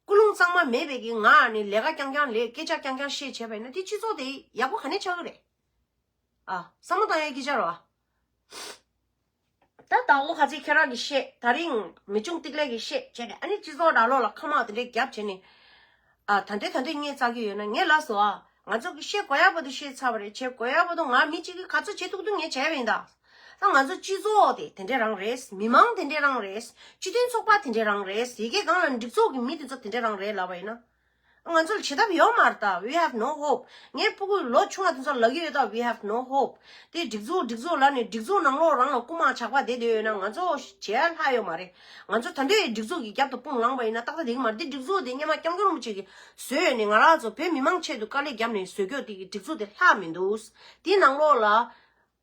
[SPEAKER 1] སྐུ་རླུང་གཙང་མ་མེད་པས་ཀྱི་ང་ནི་ལས་ཀ་རྐྱང་རྐྱང་ལས་སྐད་ཆ་རྐྱང་རྐྱང་བཤད་བྱས་པ་ཡིན་ན་དེ་སྤྱི་ཚོགས་དེ་ཡག་པོ་ག་ནས་ཆགས་ཀྱི་རེད་ཨ། བསམ་བློ་བཏང་ཡོད་ཀྱི་ཅར་བ། ད་དང་པོ་ག་ཚད་ཁྱེད་རང་གི་བཤད་ད་རིང་མི་ཆུང་ཏིག་ལེགས་ཀྱི་བཤད་བྱས་ནས་ཨ་ནི་སྤྱི་ཚོགས་ར་ལོག་ལ་ཁ་མང་དེ་འདྲས་རྒྱབ་བྱས་ནས་ཨ་ད་འདྲས་ད་འདྲས་སྙད་བཙག་གི་ཡོད་ན་ངས་ལབ་སོ་ཨ་ང་ཚོ་གི་བཤད་གོ་ཡ་པ་དུ་བཤད་ཚར་བ་རེད་བྱས་གོ་ཡ་པ་དུ་ང་མི་གཅིག་གི་ག་ཚོད་བྱེད་ཐུག་ཐུག་ངས་བྱས་པ་ཡིན་ད་ད་ང་ཚོ་སྤྱི་ཚོགས་དེ་དེ་འདྲས་རང་རེད་མི་མང་དེ་འདྲས་རང་རེད་སྤྱི་མཐུན་ཚོགས་པ་དེ་འདྲས་རང་རེད་ཡི་གེ་སྒང་ལ་འགྲིག་ཚོགས་ཀྱི་མི་དེ་ཚོ་དེ་འདྲས་རང་རེད་ལབ་པ་ཡིན་ན། ང་ཚོར་བྱེད་ཐབས་ཡོད་མ་རེད་ད we have no hope ངའི་སྤུ་གུས་ལོ་ཆུང་བ་དེ་ཚོར་ལག་གཡུག་ཡོད་ད we have no hope དེ་སྒྲིག་འཛུགས་སྒྲིག་འཛུགས་ལབ་ནས་སྒྲིག་འཛུགས་ནང་ལོགས་རང་ལ་རྐུ་མ་ཆགས་པ་དེ་འདོད་ཡོད་ན་ང་ཚོ་བྱེད་ཡ་ལྷག་ཡོད་མ་རེད་ང་ཚོ་ད་འདོད་ཡོད་སྒྲིག་འཛུགས་ཀྱི་རྒྱབ་ཏུ་དཔུང་ལངས་པ་ཡིན་ན་ཏག་ཏག་དེ་གི་མ་རེད་དེ་སྒྲིག་འཛུགས་དེ་སྙེ་མ་སྐྱབས་མགོན་རིན་པོ་ཆེ་གིས་བཟོས་ཡོད་ནས་ང་རང་ཚོ་བོད་མི་མང་ཆེད་དུ་དཀའ་ལས་བརྒྱབ་ནས་བཟོས་སྐྱོ་དེ་གི་སྒྲིག་འཛུགས་དེ་ལྷག་མི་འདུག་དེའི་ནང་ལོགས་ལ་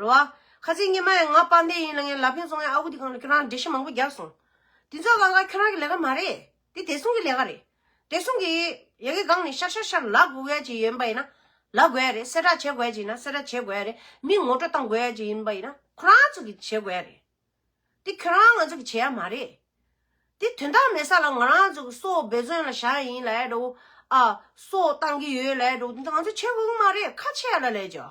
[SPEAKER 1] རེད་བ། ཁ་ཚིག་སྙན་མ་ཡང་ང་དཔའ་འདས་ཡིན་ལ་ངའི་ལབ་གཡོན་བཙོང་ཡ་ཨ་ཁུ་དེ་གང་ལ་ཁྱོད་རང་འདྲེ་ཤི་མང་པོ་རྒྱག་སོང། དེ་ཚོ་ག་ལ་ཁྱོད་རང་གི་ལས་ཀ་མ་རེད། དེ་དེ་སྲུང་གི་ལས་ཀ་རེད། དེ་སྲུང་གི། ཡ་གི་སྒང་ནས་ཤར་ཤར་ཤར་ལག་དགོས་ཡ་ཅིག་ཡོད་པ་ཡིན་ན། ལག་དགོས་ཡ་རེད་གསལ་བསྒྲགས་བྱེད་དགོས་ཡ་ཅིག་ཡིན་ན་གསལ་བསྒྲགས་བྱེད་དགོས་ཡ་རེད་མི་ངོ་སྤྲོད་གཏང་དགོས་ཡ་ཅིག་ཡིན་པ་ཡིན་ན་ཁོ་རང་ཚོ་གི་བྱེད་དགོས་ཡ་རེད། དེ་ཁྱོད་རང་ང་ཚོ་གི་བྱེད་ཡ་མ་རེད། དེ་དོན་དག་མེད་ས་ལ་ང་རང་ཚོ་གི་སོ་སྦས་བཙོན་ལ་བཞག་ཡ་ཡིན་ལ་ཡ་འདྲ་བོ། ཨ། སོ་གཏང་གི་ཡོད་ལ་ཡ་འདྲ་བོ་དེ་ཚོ་ང་ཚོ་བྱེད་དགོས་གི་མ་རེད་ཁ་ཆེ་ཡ་ལ་ལས་བྱ།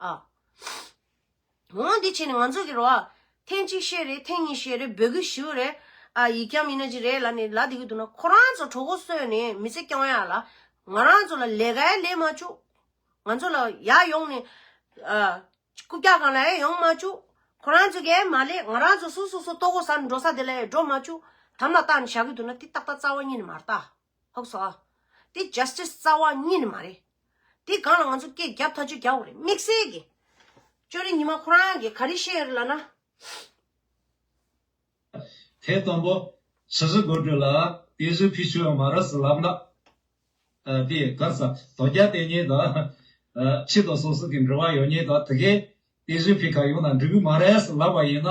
[SPEAKER 1] ཨ། ངོ་མ་འདི་བྱས་ནས་ང་ཚོ་གི་རོ་ཨ། ཐེངས་གཅིག་བཤད་རེད་ཐེངས་གཉིས་བཤད་རེད་འབོད་སྐུལ་ཞུ་རེད། ཨ་ཡིག་རྐྱང་མི་ན་ཅི་རེད་ལ་ནི་ལ་དེ་གི་དུ་ན་ཁོ་རང་ཚོ་གྲོགས་པོ་གསོས་ནས་མི་ཚེ་སྐྱོང་ཡ་ལ། ང་རང་ཚོ་ལ་ལས་ཀའི་ལས་མ་བཅུག། ང་ཚོ་ལ་ཡ་ཡོང་ནས། ཨ། རྐུབ་བཀྱག་གང་ལའེ་ཡོང་མ་བཅུག། ཁོ་རང་ཚོ་གིའེ་མ་ལས་ང་རང་ཚོ་སུ་སུ་སུ་ལྟོ་གོ་ཟ་འགྲོ་ས་དེ་ལའེ་འགྲོ་མ་བཅུག། དམ་ལ་བཏགས་ནས་བཞག་གི་དུ་ན་དེ་ཏག་ཏག་རྩ་བ་ཉིད་ནས་མ་རྟགས། ཧཱུྃ་སོགས་ཨཱ། དེ Justice རྩ་བ་གཉིས་ནི་མ་རེད། དེ་གང་ལ་ང་ཚོ་སྐད་བརྒྱབ་ཐག་ཆོད་རྒྱག་འོ་རེད་དམིགས་བསལ་གྱི། ཅོ་རི་ཉི་མ་ཁོ་རང་གིས་ག་རེ་བཤད་ཡོད་རེད་ལགས་ན།
[SPEAKER 2] དེ་དང་པོ། ཕྱི་ཟུར་དགོད་བྲོ་ལ། དེ་ཟུར་ཕི་ཆོས་མ་ར་སི་ལབ་ན། དེ་གར་ས་དོ་རྒྱ་དེ་ཉིད་དང། ཕྱི་དོ་སོ་སོ་གི་འབྲོ་བ་ཡོད་ཉིད་དང་དེ་གས། དེ་ཟུར་ཕི་ག་ཡོང་ན་འབྲི་བུ་མ་ར་སི་ལབ་པ་ཡིན་ན།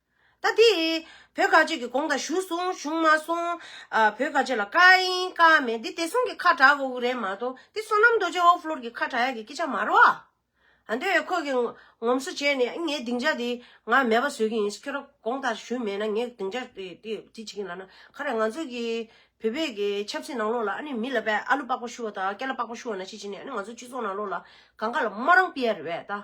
[SPEAKER 1] ད་དེ། བོད་ག་ཅིག་གི་གོང་དང་བཞུགས་སོང་བཞུགས་མ་སོང། བོད་ག་ཅིག་ལ་བཀའ་ཡིན་བཀའ་མེད་འདི་དེ་སོང་གི་ཁ་གྲག་གོ་གི་རེད་མ་གཏོགས་འདི་བསོད་ནམས་རྡོ་རྗེ་ཨོ་ཕློར་གི་ཁ་གྲག་ཡག་གི་སྐད་ཆ་མ་རོ། ཨ་འདོད་ཡོད་ཁོ་གི་ངོམ་སོ་བྱས་ནས་ངའི་སྡིངས་ཆ་དེ་ང་མེད་པ་བཟོས་གི་ཡིན་ཁྱོད་ར་གོང་དང་བཞུགས་མེད་ན་ངའི་སྡིངས་ཆ་དེ་དེ་བྱེད་ཀྱི་ལ་ན་ཁ་རས་ང་ཚོ་གི་བོད་པའི་གི་ཆབ་སྲིད་ནང་ལོགས་ལ་ཨ་ནི་མི་ལ་བས་ཨ་ལུ་པགས་པ་བཤུ་བ་དང་སྐེ་ལ་པགས་པ་བཤུ་བ་ན་ཅི་བྱེད་ནས་ཨ་ནི་ང་ཚོ་སྤྱི་ཚོགས་ནང་ལོགས་ལ་གང་ག་ལ་མ་རང་པི་ཡ་རེད་བས་ད།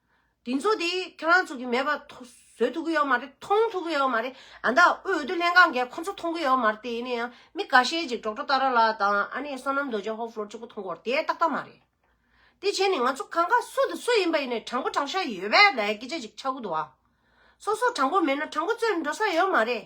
[SPEAKER 1] དེ་ཚོ་དེ་ཁྱེད་རང་ཚོ་གི་མེད་པ་བཟོས་ཐུབ་ཀྱི་ཡོད་མ་རེད་མཐོང་ཐུབ་ཀྱི་ཡོད་མ་རེད་ཨ་མདའ་དབུས་འོས་བསྡུ་ལྷན་ཁང་གིས་ཁོ་ཚོ་མཐོང་གི་ཡོད་མ་རེད་དེ་ཡིན་ན་ཡང་མི་ག་ཤེད་ཅིག་འབྲོག་སྒྲོ་རྟ་ར་ལགས་དང་ཨ་ནེ་བསོད་ནམས་རྡོ་རྗེ་ཧོར་ཕློར་གཅིག་པོ་མཐོང་དགོས་དེ་ཏག་ཏག་མ་རེད་དེ་བྱས་ནས་ང་ཚོ་གང་ག་སུ་དང་སུ་ཡིན་པ་ཡིན་ནས་དྲང་པོ་དྲང་ཤ་ཡོད་པའི་ལས་སྐད་ཆ་ཅིག་ཆགས་ཀྱི་འདུག་བ་སོ་སོ་དྲང་པོ་མེད་ན་དྲང་པོ་རྩོད་འགྲོ་ས་ཡོད་མ་རེད།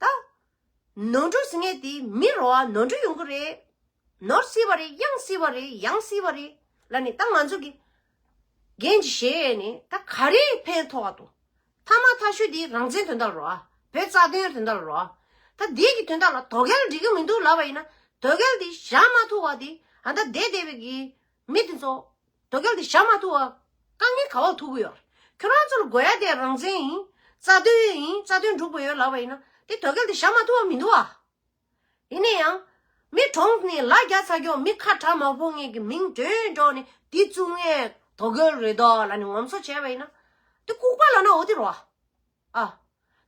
[SPEAKER 1] ད། ནོར་འཁྲུལ་ཟིན་ངེས་དེ་མི་རོ་ཨ་ནོར་འཁྲུལ་ཡོང་གི་རེད། ནོར་སྲིད་པ་རེད་གཡང་སྲིད་པ་རེད་ཡང་སྲིད་པ་རེད་ལ་ནི་ད་ང་ཚོ་གི། འགན་གྱི་བཞེས་ཡས་ནི་ད་ག་རེ་ཕན་ཐོག་ཏུ། ཐ་མ་ཐ་ཤུལ་དེ་རང་བཙན་དོན་དག་རོ་ཨ་བོད་རྩ་དོན་དོན་དག་རོ་ཨ། ད་བདེ་གི་དོན་དག་ལ་དོ་གལ་འགྲིག་གི་མི་འདུག་ལབ་པ་ཡིན་ན་དོ་གལ་དེ་བཞག་མ་ཐུབ་བ་དེ་ད་བདེ་བདེ་བའི་གི་མི་དེ་ཚོ། དོ་གལ་ཏེ་ཞྭ་མ་ཐུག་བ། རྐང་གཉིས་ག་བ་ཐུག་གི་ཡོད། ཁྱོད་རང་ཚོར་དགོས་ཡ་དེ་རང་བཙན་ཡིན། རྩ་དོན་ཡིན་རྩ་དོན་སྒྲུབ་དགོས་ཡོད་ལབ་པ་ཡིན་ན། དེ་དོ་གལ་ཏེ་ཞྭ་མ་ཐུག་བ་མི་འདུག་བ། ཡིན་ནས་ཡང། མི་གྲོངས་ནས་ལ་རྒྱ་ཚ་རྒྱོག་མི་ཁ་གྲག་མག་ཕོ་ངན་གི་མིང་འདོན་འགྲོག་ནས་དེ་བཙུག་ངས་དོ་གལ་རེད་དོ་ལ་ནི་ངོམ་སོ་བྱས་པ་ཡིན་ན། དེ་ལྐུག་པ་ལ་ན་འོ་དེ་རོ་བ། ཨ།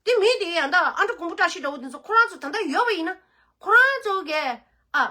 [SPEAKER 1] དེ་མི་དེ་ཡང་དག་ཨ་མྲ་ཀུང་པོ་བཀྲ་ཤིས་འདྲ་བོ་དེ་ཚོ་ཁོ་རང་ཚོ་ད་ལྟ་ཡོད་པ་ཡིན་ན། ཁོ་རང་ཚོ་གས་ཨ།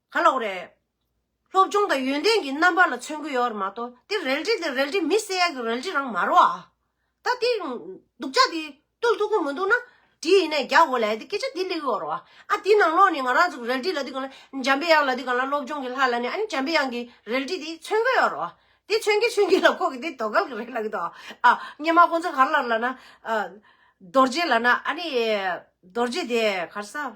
[SPEAKER 1] ག་ལོག་རེད། སློབ་སྦྱོང་དང་ཡོན་ཏན་གྱི་རྣམ་པ་ལ་མཚོན་གི་ཡོད་རེད་མ་གཏོགས་དེ་རལ་གྲི་དེ་རལ་གྲི་མི་བསད་ཡག་གི་རལ་གྲི་རང་མ་རེད་བ། ད་དེ་སྡུག་ཅག་དེ་བཏུལ་ཐུབ་ཀི་མི་འདུག་ན། གྲི་ཡིན་ན་རྒྱག་དགོས་ལ་དེ་སྐད་ཆ་དེ་ལེགས་ཡོད་རེད་བ། ཨ་དེ་ནང་ལོགས་ནས་ང་རང་ཚོ་རལ་གྲི་ལ་དེ་གང་ལ་འཇམ་དཔལ་དབྱངས་ལ་དེ་གང་ལ་སློབ་སྦྱོང་གི་ལྷ་ལ་ནི་ཨ་ནི་འཇམ་དཔལ་དབྱངས་ཀྱི་རལ་གྲི་དེ་མཚོན་གི་ཡོད་རེད་བ། དེ་མཚོན་གི་མཚོན་གི་ལ་ཁོ་གི་དེ་དོ་གལ་གི་རེད་ལ་གི་དོ། ཨ་སྙེ་མ་ཁོང་ཚོ་གར་ལར་ལ་ན། རྡོ་རྗེ་ལ་ན་ཨ་ནི་རྡོ་རྗེ་དེ་གར་ས།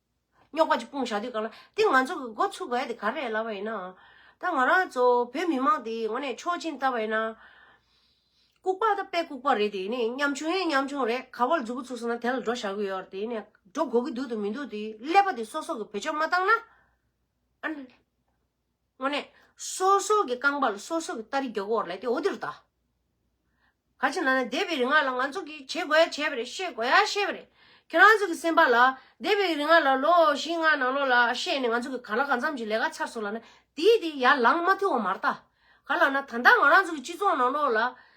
[SPEAKER 1] རྙོག་པ་ཅིག་སྤུངས་བཞག་དུས་གང་ན་དེ་ང་ཚོ་གི་འགོ་ཚུགས་དགོས་ཡ་དེ་ག་རེད་ལབ་པ་ཡིན་ནའང། ད་ང་རང་ཚོ་བོད་མི་མང་དེ་ངོ་ནས་ཆོག་མཆན་བཏབ་པ་ཡིན་ན། ལྐུགས་པ་དང་དཔེ་ལྐུགས་པ་རེད་དེ་ནས་ཉམ་ཆུང་ཡིན་ཉམ་ཆུང་རེད་ག་པར་རྫུ་བུ་ཚུགས་སོང་ན་དེ་ལ་འགྲོ་བཞག་གི་ཡོད་དེ་ནས་འགྲོ་དགོས་ཀྱི་འདུག་ཏུ་མི་འདུག་དེ་ཀླད་པ་དེ་སོག་སོག་གི་བེད་སྤྱོད་མ་བཏང་ན། དངོས་གནས། སོ་སོ་གི་རྐང་པ་ལ་སོ་སོ་གི་རྟ་རི་རྒྱོ་གོར་ལས་དེ་འོ་དེ་རུ་བལྟ། ག་ཅི་ན་ན་འདས་པའི་རིག་སྔགས་ལ་ང་ཚོ་གིས་བྱེད་དགོས་ཡ་བྱས་པ་རེད་ཤེས་དགོས་ཡ་ཤེས་པ་རེད། ཁྱེད་རང་ཚོ་གི་སེམས་པ་ལ་འདས་པའི་རིག་སྔགས་ལ་ལོ་བཞི་ལྔ་ནང་ལོགས་ལ་ཤེས་ནས་ང་ཚོ་གི་ག་ལ་གང་འཚམ་གྱི་ལས་ཀ་ཚར་སོང་ལ་ན་དེའི་དེ་ཡར་ལངས་མ་ཐུབ་བ་མ་རྟ། ག་ལ་ན་ད་ལྟ་ང་རང་ཚོ་གི་སྤྱི་ཚོགས་ནང་ལོགས་ལ་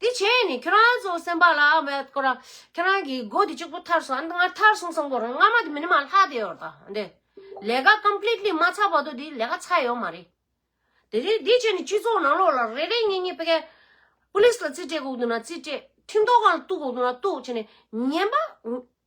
[SPEAKER 1] དེ་བྱས་ནས་ཁྱོད་རང་ཚོ་སེམས་པ་ལ་མེད་སྐོར་ར་ཁྱོད་རང་གིས་སྒོ་དེ་གཅིག་པུ་ཐར་སོང་འདི་སྔར་ཐར་སོང་སོང་སྐོར་ར་སྔ་མ་དེ་མི་ནི་མ་ལྷག་དེ་ཡོད་རྟ་འདི་ལས་ཀ completely མ་ཚར་བར་དུ་དེ་ལས་ཀ་ཚར་ཡོད་མ་རེད་དེ་རེད་དེ་བྱས་ནས་སྤྱི་ཚོགས་ནང་ལོགས་ལ་རེ་རེ་ཉེ་ཉེ་ཕི་ཀའི police ལ་རྩིས་སྤྲད་དགོས་དུ་ན་རྩིས་སྤྲད་ཁྲིམས་ཐོག་ཁང་ལ་གཏུག་དགོས་དུ་ན་གཏུག་བྱས་ནས་ཉན་པ་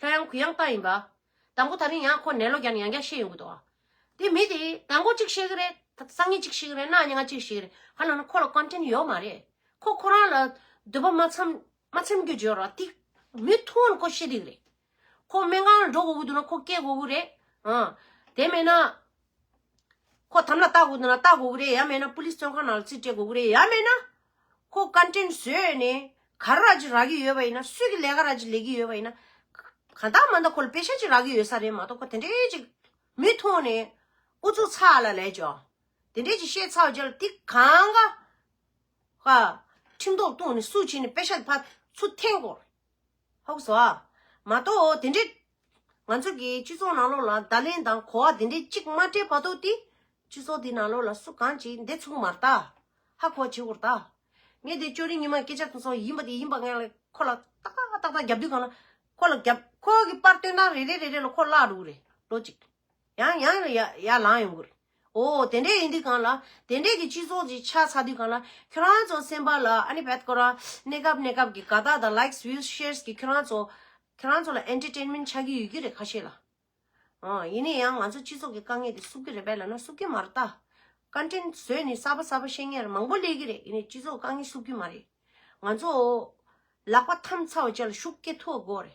[SPEAKER 1] ལྷོད་ཡང་གུ་ཡངས་རྟགས་ཡིན་པ། དང་པོ་ད་རིང་ཡང་ཁོ་ནད་ལོ་བརྒྱ་ནས་ཡང་བརྒྱ་ཤེས་ཡོང་གི་འདུག་ཨ། དེ་མི་དེས་དང་པོ་གཅིག་ཤེས་ཀྱི་རེད། སང་ཉིན་གཅིག་ཤེས་ཀྱི་རེད་གནངས་ཉིན་གཅིག་ཤེས་ཀྱི་རེད་ཧ་ལམ་ཁོ་ལ Content ཡོད་མ་རེད། ཁོ་ཁོ་རང་ལ་འདོད་པ་མ་འཚམ་མ་འཚེམ་རྒྱུ་བརྗོད་རོགས་ཏིག། མི་ཐུང་ན་ཁོ་ཤེས་ཏིག་རེད། ཁོ་སྨན་ཁང་ལ་འགྲོ་དགོས་ཀྱི་འདུག་ན་ཁོ་སྐྱེལ་དགོས་ཀྱི་རེད། ཨ། དེ་མེད་ན། ཁོ་དམ་ལ་བཏགས་དགོས་འདུག་ན་བཏགས་དགོས་ཀྱི་རེད་ཡ་མེད་ན Police བཙོན་ཁང་ནང་ལ་རྩིས་སྤྲད་དགོས་ཀྱི་རེད་ཡ་མེད་ན། ཁོ་བཀའ་དྲིན་བཟོས་ནས་ག་ར་གཅིག་རག་གི་ཡོད་པ་ཡིན་ན་སུས་ཀྱི་ལས་ཀ་ར་གཅིག་ལས་ཀྱི་ཡོད་པ་ཡིན་ན། གང་ལྟར་མ་འདང་ཁོ་ལ་དཔེ་ཆ་གཅིག་རག་གི་ཡོད་ས་རེད་མ་གཏོགས་ཁོ་དེ་འདྲའི་གཅིག་མི་མཐོང་ནས་ཨུ་ཚུགས་ཚ་ལ་ལས་ཀྱོ། དེ་འདྲའི་གཅིག་བཤད་ཚར་བ་རྗེས་ལ་དེ་གང་ག། ཁྲིམས་ཐོག་བཏུང་ནས་སུ་བྱིན་ནས་དཔེ་ཆ་དེ་ཕར་ཚུར་འཐེན་དགོས། ཧཱུྃ་བྷྱོ། མ་གཏོགས་འོ་དེ་འདྲའི། ང་ཚོ་གི་སྤྱི་ཚོགས་ནང་ལོགས་ལ་བརྡ་ལན་དང་གོ་བ་དེ་འདྲའི་གཅིག་མ་སྤྲད་པ་གཏོགས་ཏེ། སྤྱི་ཚོགས་འདི་ནང་ལོགས་ལ་སུ་གང་གཅིག་འདི་ཚུགས་མ་རྟ། ཧ་གོ་བ་བྱེད་བོར་རྟ། ངས་དེ་ཅོ་རི་ཉི་མ་སྐད་ཆ་དེ་ཚོ་ཡིན་པ་དེ་ཡིན་པ་ངས་ལ་ཁོ་ལ་ཏག་ཏག་ཏག་ཏག་རྒྱབ་དུས་གང་ལ་ཁོ་ལ་རྒྱབ་ཁོ་གི་པར་སྟོན་སྟངས་རེ་རེ་རེ་རེ་ལ་ཁོ་བརླག་འགྲོ་གི་རེད་ལོ་གཅིག། ཡང་ཡང་ཡང་ཡར་ལངས་ཡོང་གི་རེད། ཨོ། དེ་འདྲས་ཡིན་དུས་གང་ལ། དེ་འདྲས་ཀྱི་སྤྱི་ཚོགས་ཀྱི་ཆ་ཚ་དུས་གང་ལ། ཁྱོད་རང་ཚོ་སེམས་པ་ལ་ཨ་ནི་བད་དཀོན་ར། གནས་སྐབས་གནས་སྐབས་ཀྱི་དགའ་རྟགས་དང Likes Views Shares གྱིས་ཁྱོད་རང་ཚོ། ཁྱོད་རང་ཚོ་ལ Entertainment ཆགས་ཀྱི་ཡོད་ཀྱི་རེད་ཁ་ཤས་ལ། ཨོ། ཡིན་ནས་ཡང་ང་ཚོ་སྤྱི་ཚོགས་ཀྱི་དཀའ་ངལ་དེ་བསུབ་ཀྱི་རེད་བད་ལ་ན་བསུབ་ཀྱི་མ་རེད་ད། Content བཟོས་ནས་གསར་པ་གསར་པ་བཤད་མཁན་ར་མང་པོ་སླེབས་ཀྱི་རེད་ཡིན་ནས་སྤྱི་ཚོགས་དཀའ་ངལ་བསུབ་ཀྱི་མ་རེད། ང་ཚོ། ལག་པ་འཐམ་ཚར་བ་བཅས་ལ་ཤུགས་སྐྱེད་ཐུབ་དགོས་རེད།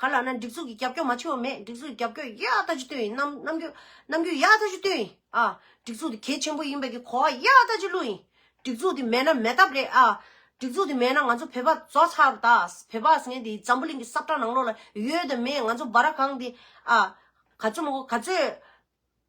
[SPEAKER 1] ག་ལ་ན་སྒྲིག་འཛུགས་ཀྱི་རྒྱབ་སྐྱོར་མ་ཆོད་བ་མེད་སྒྲིག་འཛུགས་ཀྱི་རྒྱབ་སྐྱོར་ཡག་ལྟ་ཅི་བཏོན་ཡིན་ནམ་རྣམ་འགྱུར་རྣམ་འགྱུར་ཡག་ལྟ་ཅི་བཏོན་ཡིན་ཨ། སྒྲིག་འཛུགས་དེ་གལ་ཆེན་པོ་ཡིན་པའི་གི་གོ་བ་ཡག་ལྟ་ཅི་བླུགས་ཡིན། སྒྲིག་འཛུགས་དེ་མེད་ན་མེད་ཐབས་རེད་ཨ། སྒྲིག་འཛུགས་དེ་མེད་ན་ང་ཚོ་བོད་པ་རྫོགས་ཚར་བ་ད། བོད་པ་ཟེར་མཁན་དེ་འཛམ་བུ་གླིང་གི་སྲབ་ཁྲ་ནང་ལོགས་ལ་ཡོད་དམ་མེད་ང་ཚོ་སྦ་ར་གང་དེ་ཨ། ག་ཚོད་མ་གོ་ག་ཚོད།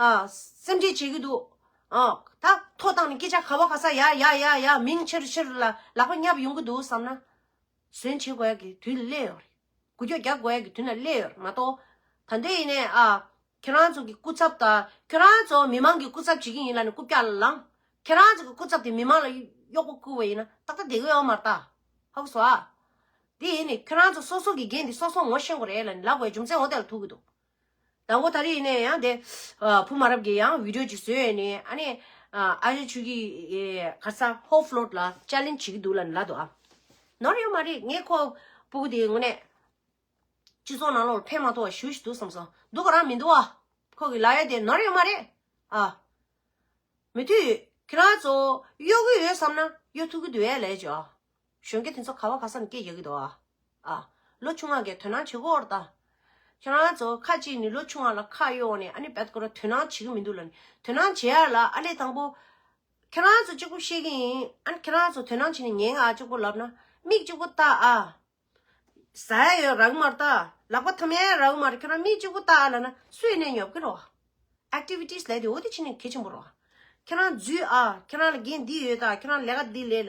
[SPEAKER 1] སེམས་ཁྲལ་བྱེད་ཀྱི་འདུག། ད་ཐོག་བཏང་ནས་སྐད་ཆ་ག་བ་ག་ས་ཡ་ཡ་ཡ་ཡ་མིང་ཕྱིར་ཕྱིར་ལ་ལག་པ་བསྙབ་ཡོང་གི་འདུག་བསམ་ན། གཟོན་བྱེད་དགོས་ཡག་གི་དུས་ལ་སླེབས་ཡོང་རེད། གུ་རྒྱོག་རྒྱག་དགོས་ཡག་གི་དུས་ན་སླེབས་ཡོང་རེད་མ་གཏོགས། ད་ལྟའི་ཡིན་ནའི། ཁྱེད་རང་ཚོ་གི་སྐུ་ཚབ་ད། ཁྱེད་རང་ཚོ་མི་མང་གི་སྐུ་ཚབ་བྱེད་ཀྱི་ཡིན་ལ་ནི་སྐུ་བཀྱག་ལ་ལངས། ཁྱེད་རང་ཚོ་གི་སྐུ་ཚབ་དེ་མི་མང་ལ་གཡོག་པོ་བསྐུལ་བ་ཡིན་ན་ཏག་ཏག་བསྡད་གི་ཡོད་མ་རེད་ད། ཧོ་གི་སོ། དེ་ཡིན་ནའི་ཁྱེད་རང་ཚོ་སོ་སོ་གི་འགན་དེ་སོ་སོ་ངོ་ཤེས་དགོས་རེད་ལ་ནི་ལག་པའི་རྒྱུ་མཚན་འོ་དེ་ལ་ཐུག་གི་འདུག། ཟླ་འགོ་ད་རེས་ནས་ཡང་དེ། བུ་མ་རབས་ཀྱི་ཡང་བིདོ་ཅིག་བཟོས་ཡས་ནས་ཨ་ནས། ཨ་ཞོད་ཆུ་ཁྱི། ཁར་ས་ཧོ་ཕློད་ལ་ཅལེན་བྱེད་ཀྱི་འདུག་ལ་ལ་དོ་ཨ། ནོར་ཡོད་མ་རེད་ངས་ཁོ། པུ་གུ་དེའི་ངོ་ནས། སྤྱི་ཚོགས་ནང་ལོག་ཕན་མ་ཐོག་ཞུ་ཞིག་འདུག་བསམ་སོང་འདུག་ག་རང་མི་འདུག་ཨ། ཁོ་གི་ལ་ཡོད་དེ་ནོར་ཡོད་མ་རེད་ཨ། མི་ཐུག་ཡོད་ཁྱེད་རང་ཚོ་གཡོ་གི་ཡོད་བསམ་ན་གཡོ་ཐུག་གི་འདུག་ཡས་ལས་ཅོ་ཨ། གཞོན་སྐྱེས་དེ་ཚོ་ག་བ་ག་སར་སྐྱེས་ཡག་གི་འདུག་ཨ། ཨ། ལོ་ཆུང་བ་འགས་དོན་སྣང་བྱེད་དགོས་འོར་ད། ཁྱེད་རང་ཚོ་ཁ་ཅིག་ནི་ལོ་ཆུང་བ་ལ་ཁ་གཡོག་ནས་ཨ་ནི་བད་དཀོར་བ་དོན་སྣང་བྱེད་ཀྱི་མི་འདུག་ལ་ནི་དོན་སྣང་བྱེད་ཡག་ལ་ཨ་ལས་དང་པོ། ཁྱེད་རང་ཚོ་གཅིག་པོ་ཤེས་ཀྱི་ཡིན་ཨ་ནི་ཁྱེད་རང་ཚོ་དོན་སྣང་བྱེད་ནས་ཉན་གི་ཨ་གཅིག་པོ་ལབ་ན་མིག་གཅིག་པོ་བལྟ་ཨ། བཟའ་ཡ་ཡོད་རག་གི་མར་བལྟ་ལག་པ་འཐམ་ཡ་ཡོད་རག་གི་མར་ཁྱེད་རང་མིག་གཅིག་པོ་བལྟ་ཨ་ལ་ན་སུས་ནས་ཉོབ་ཀྱི་རོགས། Activities ལས་དེ་འོ་དེ་ཕྱི་ནས་གལ་ཆེན་པོ་རོགས། ཁྱེད་རང་རྫུས་ཨ་ཁྱེད་རང་ལ་འགན་འདི་ཡོད་ད་ཁྱེད་རང་ལས་ཀ་འདི་ལས།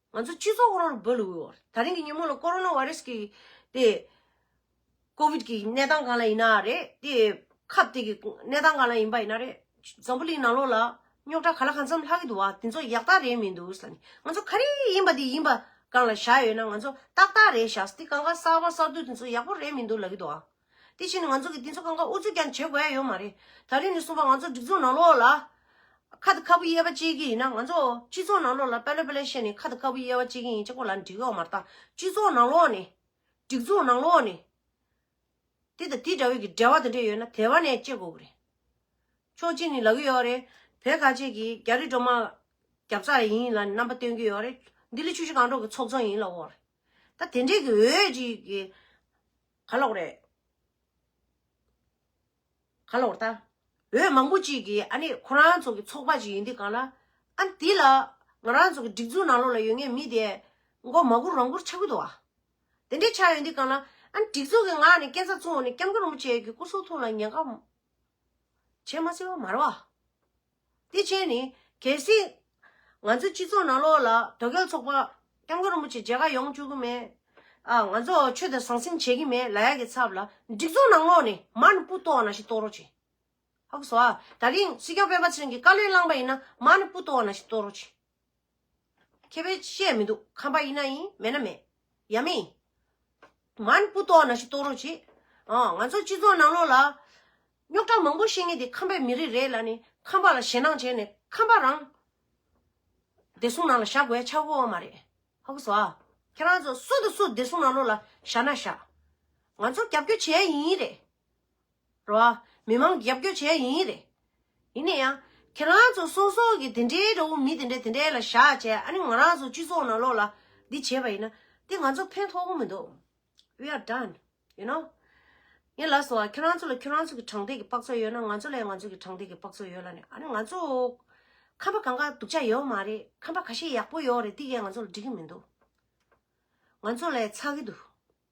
[SPEAKER 1] ང་ཚོ་སྤྱི་ཚོགས་ཁོ་རང་རུ་འབོད་ལ་འོས། ད་རིང་གི་ཉིན་མོ་ལ་ཀོ་རོ་ནོ་བྷ་རེས་ཀྱི་དེ། ཀོ་བིད་ཀྱི་གནས་སྟངས་གང་ལ་ཡིན་ན་རེད། དེ་ཁབ་དེ་གི་གནས་སྟངས་གང་ལ་ཡིན་པ་ཡིན་ན་རེད། འཛམ་བུ་གླིང་ནང་ལོགས་ལ་རྙོག་དྲ་ག་ལ་གང་འཚམས་ལྷག་གི་འདུག་བ་དེ་ཚོ་ཡག་རྟགས་རེད་མི་འདུག་ས་ནི། ང་ཚོ་ག་རེ་ཡིན་པ་དེ་ཡིན་པ་གང་ལ་བཞག་ཡོད་ན་ང་ཚོ་ཏག་ཏག་རེད་བཞག་སྟེ་གང་ག་གསར་བ་གསར་བསྡུ་དེ་ཚོ་ཡག་པོ་རེད་མི་འདུག་ལག་གི་འདུག་བ། དེ་བཞིན་ང་ཚོ་གི་དེ་ཚོ་ཀང་ཀང་ཨུ་ཚུགས་ཀྱང་བྱེད་དགོས་ཡ་ཡོད་མ་རེད། ད་རེས་ནས་གསུངས་པ་ང་ཚོ་སྒྲིག་འཛུགས་ནང་ལོགས་ལ། ཁ་དང་ཁ་སྤུ་དབྱེ་བ་བྱེད་ཀྱི་ཡིན་ན་ང་ཚོ་སྤྱི་ཚོགས་ནང་ལོགས་ལ་དཔེ་ལོ་དཔེ་ལེ་བཤད་ནས་ཁ་དང་ཁ་སྤུ་དབྱེ་བ་བྱེད་ཀྱི་ཡིན་ཅེས་ཁོ་ལ་འདྲི་འོག་མར་ད་སྤྱི་ཚོགས་ནང་ལོགས་ནས། སྒྲིག་འཛུགས་ནང་ལོགས་ནས། དེ་དང་དེ་འདྲ་བའི་གི་འབྲེལ་བ་དང་འདྲེ་ཡོད་ན་དེ་བ་ནས་བཅད་དགོས་གི་རེད། ཕྱོགས་གཅིག་ནས་ལ་གི་ཡོད་རེད། བོད་ཁ་ཆེ་གི་རྒྱ་རི་སྒྲོ་མ། རྒྱབ་རྩ་ལ་ཡིན་ལ་རྣམ་པ་སྟོན་གི་ཡོད་རེད། འདི་ལི་ཆུ་བཞི་གང་འགྲོ་གི་ཚོགས་ཚང་ཡིན་ལ་འོ་རེད། ད་དེ་འདྲེ་གི་འོས་གཅིག་གི། ག་ལོག་རེད། ག་ལོག་རྟ། འོས་མང་པོ་ཅིག་གིས་ཨ་ནི་ཁོ་རང་ཚོ་གི་ཚོགས་པ་ཅིག་ཡིན་དུས་གང་ལ། ཨ་འདི་ལ། ང་རང་ཚོ་གི་སྒྲིག་འཛུགས་ནང་ལོགས་ལ་ཡོད་ངེས་མི་དེ། མགོ་མ་སྒུར་རང་སྒུར་ཆགས་ཀྱི་འདུག་ཨ། དེ་འདྲས་ཆགས་ཡོད་དུས་གང་ལ། ཨ་སྒྲིག་འཛུགས་གི་ངག་ནས་སྐད་ཚ་བཙུམ་འོག་ནས་སྐྱམ་ཁ་རུམ་བྱས་ཡོད་གི་སྐུ་གསུང་ཐུགས་ལ་ཉན་ཁ། བྱས་མ་སྲིད་བ་མ་རེད་བ། དེ་བྱས་ནས་གལ་སྲིད། ང་ཚོའི་སྤྱི་ཚོགས་ནང་ལོགས་ལ་དོལ་རྒྱལ་ཚོགས་པ། སྐྱབས་མགོན་རིན་པོ་ཆེ་མཇལ་ཁ་ཡོང་བཅུག་གི་མེད། ཨ། ང་ཚོ་ཆོས་དད་ཟང་ཟིང་བྱེད་ཀྱི་མེད་ལ་ཡག་གི་ཚབ་ལ། སྒྲིག་འཛུགས་ནང་ལོགས་ནས་མར་ནི་སྤུ་ཏོ་ན་ཞིག་གཏོར་རོགས་བྱེད། ཧ་གོ་སོ་ཨ། ད་རིང་སྲིད་སྐྱོང་སྤེན་པ་ཚུན་གྱིས་བཀའ་བློན་བླངས་པ་ཡིན་ན་མར་ནི་སྤུ་ཏོ་ན་ཞིག་གཏོར་རོགས་བྱེད། མཁས་པས་བཤད་མི་འདུག་ཁམས་པ་ཡིན་ན་ཡིན་མེད་ན་མེད་ཡ་མི་ཡིན། མ་ནི་སྤུ་ལྟོགས་ན་ཤི་ལྟོགས་རོགས་བྱེད། ཨོ་ང་ཚོ་སྤྱི་ཚོགས་ནང་ལོགས་ལ། རྙོག་དྲ་མང་པོ་བཤད་ངེས་དེ་ཁམས་པའི་མི་རིགས་རེད་ལ་ནི་ཁམས་པ་ལ་ཞེ་སྣང་བྱས་ནས་ཁམས་པ་རང། བདེ་སྲུང་ནང་ལ་བཞག་དགོས་ཡ་ཆགས་དགོས་བ་མ་རེད་ཧ་གོ་ཟོ་ཨ། ཁྱེད་རང་ཚོ་སུ་དང་སུ་བདེ་སྲུང་ནང་ལོགས་ལ་བཞག་ན་བཞག། ང་ཚོ་རྒྱབ་སྐྱོ་བྱེད་ཡ་ཡིན་ཡིན་རེད། རོ། མི་མང་རྒྱབ་སྐྱོར་བྱས་ཡིན་ཡིན་རེད། ཡིན་ནས་ཡང། ཁྱེད་རང་ཚོ་སོ་སོ་གི་དེ་འདྲའི་འདྲ་བོ་མི་དེ་འདྲ་དེ་འདྲའི་ལ་བཞག་བྱས་ཨ་ནི་ང་རང་ཚོ་སྤྱི་ཚོགས་ནང་ལོགས་ལ་འདི་བྱས་པ་ཡིན་ན་དེ་ང་ཚོ་ཕན་ཐོག་པོ་མི་འདུག we are done you know ངས་ལབ་སོང་ང་ཁྱེད་རང་ཚོ་ལ་ཁྱེད་རང་ཚོ་གི་དྲང་ཐད་ཀྱི་དཔག་ཚོད་ཡོད་ན་ང་ཚོ་ལ་ཡང་ང་ཚོ་གི་དྲང་ཐད་ཀྱི་དཔག་ཚོད་ཡོད་ལ་ནི་ཨ་ནི་ང་ཚོ་ཁམས་པ་གང་ག་སྡུག་ཅག་ཡོད་མ་རེད་ཁམས་པ་ག་ཤེད་ཡག་པོ་ཡོད་རེད་དེ་ཀས་ང་ཚོ་ལ་འགྲིག་གི་མི་འདུག་ང་ཚོ་ལ་ཡང་ཚགས་ཀྱི་འདུག།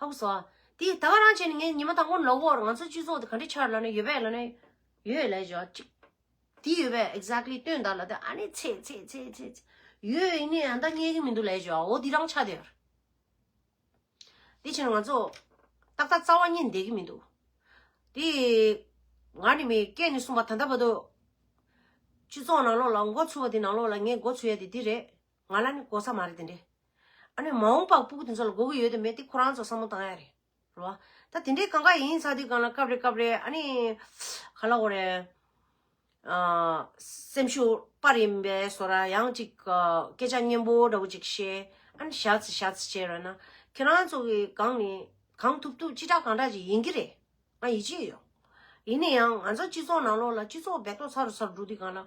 [SPEAKER 1] ཧཱུྃ་བཟླ། དེ་ད་ག་རང་བྱས་ནས་ངས་ཉི་མ་དང་པོ་ནས་ལོག་བོར་ང་ཚོ་སྤྱི་ཚོགས་དེ་ག་འདྲའི་ཆར་ལ་ནི་ཡོད་པས་ལ་ནི། ཡོད་ལས་བྱ། ཅིག། དེ་ཡོད་པས exactly སྟོན་བདག་ལ་དེ་ཨ་ནི་ཚེ་ཚེ་ཚེ་ཚེ་ཚེ། ཡོད་ཡིན་ནི་ཨ་ད་རྙེད་ཀྱི་མི་འདུག་ལས་བྱའོ་འོ་དེ་རང་ཆ་དེར། དེ་ཕྱིར་ང་ཚོ། ཏག་ཏག་རྩ་བ་རྙེད་བསྡད་ཀྱི་མི་འདུག། དེ། ང་ནི་མི་སྐད་ནས་གསུངས་པ་ད་ལྟ་བར་དུ། སྤྱི་ཚོགས་ནང་ལོགས་ལ་མགོ་ཚུད་པ་དེ་ནང་ལོགས་ལ་ངས་མགོ་ཚུད་ཡ་དེ་དེ་རེད། ང་ལ་ནི་གོ་ས་མ་རེད་དེ་འདྲས། ཨ་ནི་མ་འོངས་པ་སྤུག་དེ་ཚོ་ལ་དགོས་ཀྱི་ཡོད་དེ་མེད་དེ་ཁོ་རང་ཚོ་བསམ་བློ་བཏང་ཡ་རེད་རེད་བ། ད་དེ་འདྲའི་གང་ག་ཡིན་ཚ་དུས་གང་ལ་སྐབས་རེ་སྐབས་རེ་ཨ་ནི་ག་ལ་འོ་རེད། སེམས་ཤུགས་དཔར་ཡིན་པས་སོ་ར་ཡང་ཅིག་སྐད་ཆ་སྙན་པོ་འདྲ་བོ་ཅིག་བཤད་ཨ་ནི་ཞག་ཚི་ཞག་ཚི་བྱས་རོལ་ན་ཁྱེད་རང་ཚོ་གི་གང་ནི་གང་ཐུབ་ཐུབ་ཅི་དྲག་གང་དྲག་ཅིག་ཡིན་གྱི་རེད་ང་ཡིད་ཆེས་ཡོད། ཡིན་ན་ཡང་ང་ཚོ་སྤྱི་ཚོགས་ནང་ལོགས་ལ་སྤྱི་ཚོགས་བེད་ཐོག་ཚར་རུ་ཚར་རུ་འགྲོ་དུས་གང་ལ།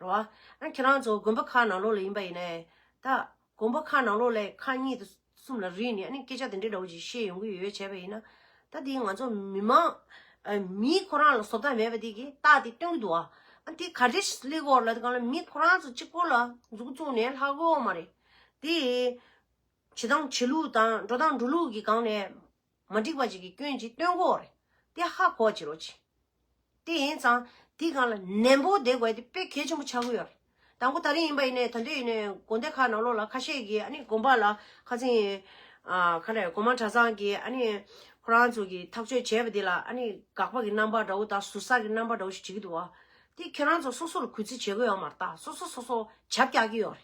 [SPEAKER 1] རོ། ཨ་ཁྱེད་རང་ཚོ་དགོན་པ་ཁག་ནང་ལོགས་ལ་ཡིན་པ་ཡིན་ནའི། ད། དགོན་པ་ཁག་ནང་ལོགས་ལས་ཁག་གཉིས་དང་གསུམ་ལ་རིགས་ནས་ཨ་ནི་སྐད་ཆ་དེ་འདྲའི་འདྲ་བོ་ཞིག་བཤད་ཡོང་གི་ཡོད་བྱས་པ་ཡིན་ན། ད་དེ་ང་ཚོ་མི་མང། མིའི་ཁོ་རང་ལ་བཟོ་ལྟ་མེད་པ་དེ་གིས་རྟགས་དེ་སྟོན་གྱི་འདུག་ཨ། ཨ་དེ་ག་རེ་གླེགས་བོར་ལ་དེ་གང་ལ་མི་ཁོ་རང་ཚོ་གཅིག་པོ་ལ་མཛུ་གུ་བཙུགས་ནས་ལྷག་གོ་མ་རེད། དེ། བྱེད་སྟངས་བྱེད་ལུགས་དང་འགྲོ་སྟངས་འགྲོ་ལུགས་ཀྱི་སྒང་ནས། མ་འགྲིག་པ་ཅིག་གི་སྐྱོན་གྱིས་སྟོན་གོ་རེད་དེ་ཧ་གོ་བྱེད་རོགས་གྱིས། དེ་ཡིན་ཙང་དེ་གང་ལ་ནན་པོ་བསྡད་དགོས་དེ་དཔེ་གལ་ཆེན་པོ་ཆགས་ཀྱི་ཡོད་རེད། དང་པོ་ད་རིང་ཡིན་པ་ཡིན་ནའི་ད་འདོད་ཡིན་ནའི་དགོན་སྡེ་ཁག་ནང་ལོགས་ལ་ཁ་ཤས་ཀྱིས་ཨ་ནི་དགོན་པ་ལ་ཁ་ཚིང། ཁ་ལས་གོང་མ་གྲྭ་ཚང་གིས་ཨ་ནི་ཁོ་རང་ཚོ་གིས་ཐག་གཅོད་བྱས་པ་དེ་ལ་ཨ་ནི་དགག་པ་གྱི་རྣམ་པ་འདྲ་བོ་དང་ཟུར་ཟ་གྱི་རྣམ་པ་འདྲ་བོ་ཞིག་བྱེད་ཀྱི་འདུག་བ། དེ་ཁྱེད་རང་ཚོ་སོ་སོ་ལ་གུས་བརྩི་བྱེད་དགོས་ཡོད་མ་རེད་ད་སོ་སོ་སོ་སོ་བྱབ་རྒྱག་གྱི་ཡོད་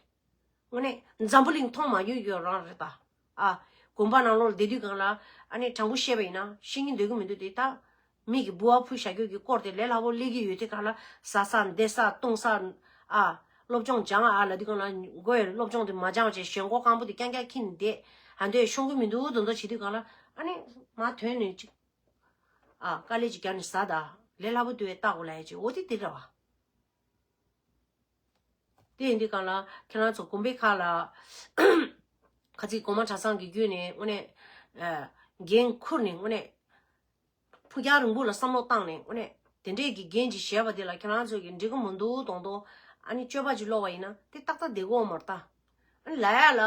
[SPEAKER 1] རེད། དངོས་གནས་འཛམ་བུ་གླིང་མཐོང་མ་མྱོང་གྱི་ཡོད་རང་རེད་ད། ཨ། དགོན་པ་ནང་ལོགས་ལ་བསྡད་དུས་གང་ལ། ཨ་ནེ་དྲང་པོ་བཤད་པ་ཡིན་ན་ཤེས་ཀྱིན་སྡོད་ཀྱི་མི་འདུག་དེ་དག། མིག་གིས་ལྦུ་བ་ཕུལ་བྱ་རྒྱུ་གི་སྐོར་དེ་ལས་སླ་པོ་གླེགས་ཀྱི་ཡོད་དེ་གང་ལ། ཟ་ས་འདེད་ས་བཏུང་ས། ཨ། སློབ་སྦྱོང་སྦྱང་ཨ་ལ་དུས་གང་ལ། མགོ་ཡི་སློབ་སྦྱོང་དེ་མ་སྦྱང་བྱས་ཞོན་མགོ་སྐམ་པོ་དེ་རྐྱང་རྐྱང་འཁྱིལ་ནས་བསྡད། ཨ་འདོད་ཤོང་གི་མི་འདུག་འདོད་འདོད་བྱེད་དུས་གང་ལ། ཨ་ནེ། མ་དོན་ནི་ཅིག། ཨ། དཀའ་ལས་ཅིག་རྒྱབ་ནས་ཟ་ད། ལས་སླ་པོ་དུ་བས་བལྟ་དགོས་ལ་ཨེ་ཅི་འོ་དེ་དེ་འདྲ་བ། དེ་ཡིན་དུས་གང་ལ། ཁྱེད་རང་ཚོ་གོམ་པའི་ཁ་ལ། ཁ་ཚིག་གོང་མ་གྲྭ་ཚང་གི་བརྒྱུད་ནས་དངོས་གནས། འགན་ཁུར་ནས་དངོས་གནས། ཕུགས་རྒྱང་རིང་པོ་ལ་བསམ་བློ་བཏང་ནས་དངོས་གནས། དེ་འདྲས་ཀྱི་འགན་ཅིག་བཞེས་པ་དེ་ལ་ཁྱེད་རང་ཚོས་ཀྱིས་འགྲིག་གི་མི་འདུག་དོང་དོང། ཨ་ནི་སྤྱོད་པ་ཅིག་ལོག་པ་ཡིན་ན་དེ་ཏག་ཏག་སྡེ་གོང་མར་བལྟ། ཨ་ལ་ཡ་ལ།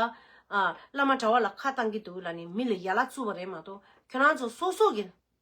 [SPEAKER 1] བླ་མ་གྲྭ་བ་ལ་ཁ་བཏང་གི་འདུག་ལ་ནི་མི་ལ་ཡ་ལ་བཙུར་བ་རེད་མ་གཏོགས་ཁྱེད་རང་ཚོ་སོ་སོ་གི།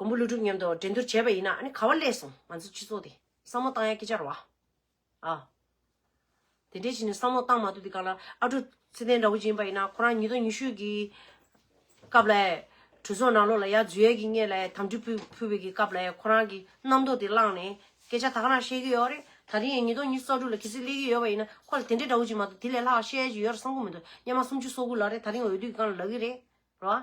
[SPEAKER 1] མགོན་པོ་ཀླུ་སྒྲུབ་མཉམ་དུ་འགྲན་བསྡུར་བྱས་པ་ཡིན་ན་ག་བ་ཀླད་སོང་ང་ཚོ་སྤྱི་ཚོགས་དེ་བསམ་བློ་བཏང་ཡ་སྐྱི་ཆར་བ་ཨ། དེ་འདྲའི་བྱིན་ནས་བསམ་བློ་བཏང་མ་ཐུབ་དེ་ག་ལ་ཨ་ཀྲུ་ཚེ་བརྟན་འདྲ་བོ་ཅིག་ཡིན་པ་ཡིན་ན་ཁོ་རང་ཉིས་སྟོང་ཉི་ཤུ་གི་སྐབས་ལ་གྲོས་ཚོགས་ནང་ལོག་ལ་ཡ་རྫུས་ཡ་གི་ངེས་ལ་དམ་དྲི་ཕུལ་ཕུལ་བའི་གི་སྐབས་ལ་ཁོ་རང་གི་རྣམ་རྟོག་དེ་བླངས་ནས་སྐད་ཆ་ད་ག་རང་བཤད་གི་ཡོད་རེད་ད་དེ་ཡང་ཉིས་སྟོང་ཉི་ཤུ་རྩ་དྲུག་ལ་གལ་སྲིད་སླེབས་གི་ཡོད་པ་ཡིན་ན་ཁོ་ལ་དེ་འདྲའི་འདྲ་བོ་ཅིག་མ་གཏོགས་དེ་ལས་ལྷག་བཤད་ཡ་ཅིག་ཡོད་ར་བསམ་ཁོམ་མི་འདུག་སྙ་མ་སུམ་ཅུ་སོ་དགུ་ལ་རེད་ད་རིང་འོས་བསྡུ་གི་སྒང་ལ་ལག་གི་རེད་ར།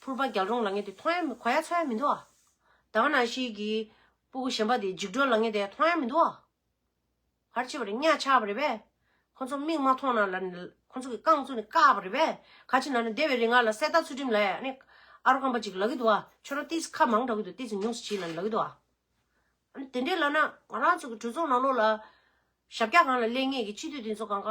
[SPEAKER 1] ཕུར་པ་རྒྱལ་རོང་ལ་ངེས་ཏེ་མཐོང་ཡང་གོ་ཡ་ཚོར་ཡ་མི་འདུག་ཨ། དྭངས་སྣང་ཤེལ་གྱི་སྤུ་གུ་བཞེངས་པ་དེ་འཇིགས་འགྲོ་ལ་ངེས་ཏེ་མཐོང་ཡ་མི་འདུག་ཨ། ཕར་ཕྱི་བར་གཉའ་ཆག་པ་རེད་པས། ཁོ་ཚོ་མིག་མ་མཐོང་ན་ལ་ཁོ་ཚོ་གི་རྐང་བཙུགས་ནས་བཀག་པ་རེད་པས། ཁ་ཕྱི་ན་ན་སྡེ་བའི་རི་ང་ལ་གསེར་རྟ་ཚུལ་ཁྲིམས་ལ་ཡ་ནི་ཨ་རོ་སྐམ་པ་ཅིག་ལ་གི་འདུག་ཨ་ཁྱོད་རང་ཏིས་ཁ་མང་གྲག་གི་འདུག་ཏིས་ཉུང་སུ་བྱིས་ལ་ལ་གི་འདུག་ཨ། ཨ་ནི་དེ་འདྲས་ལ་ན་ང་རང་ཚོ་གི་གྲོས་ཚོགས་ནང་ལོགས་ལ། ཞབས་བཀྱག་གང་ལ་གླས་ངེས་ཀྱི་སྤྱི་འཐུས་དེ་ཚོ་གང་ག།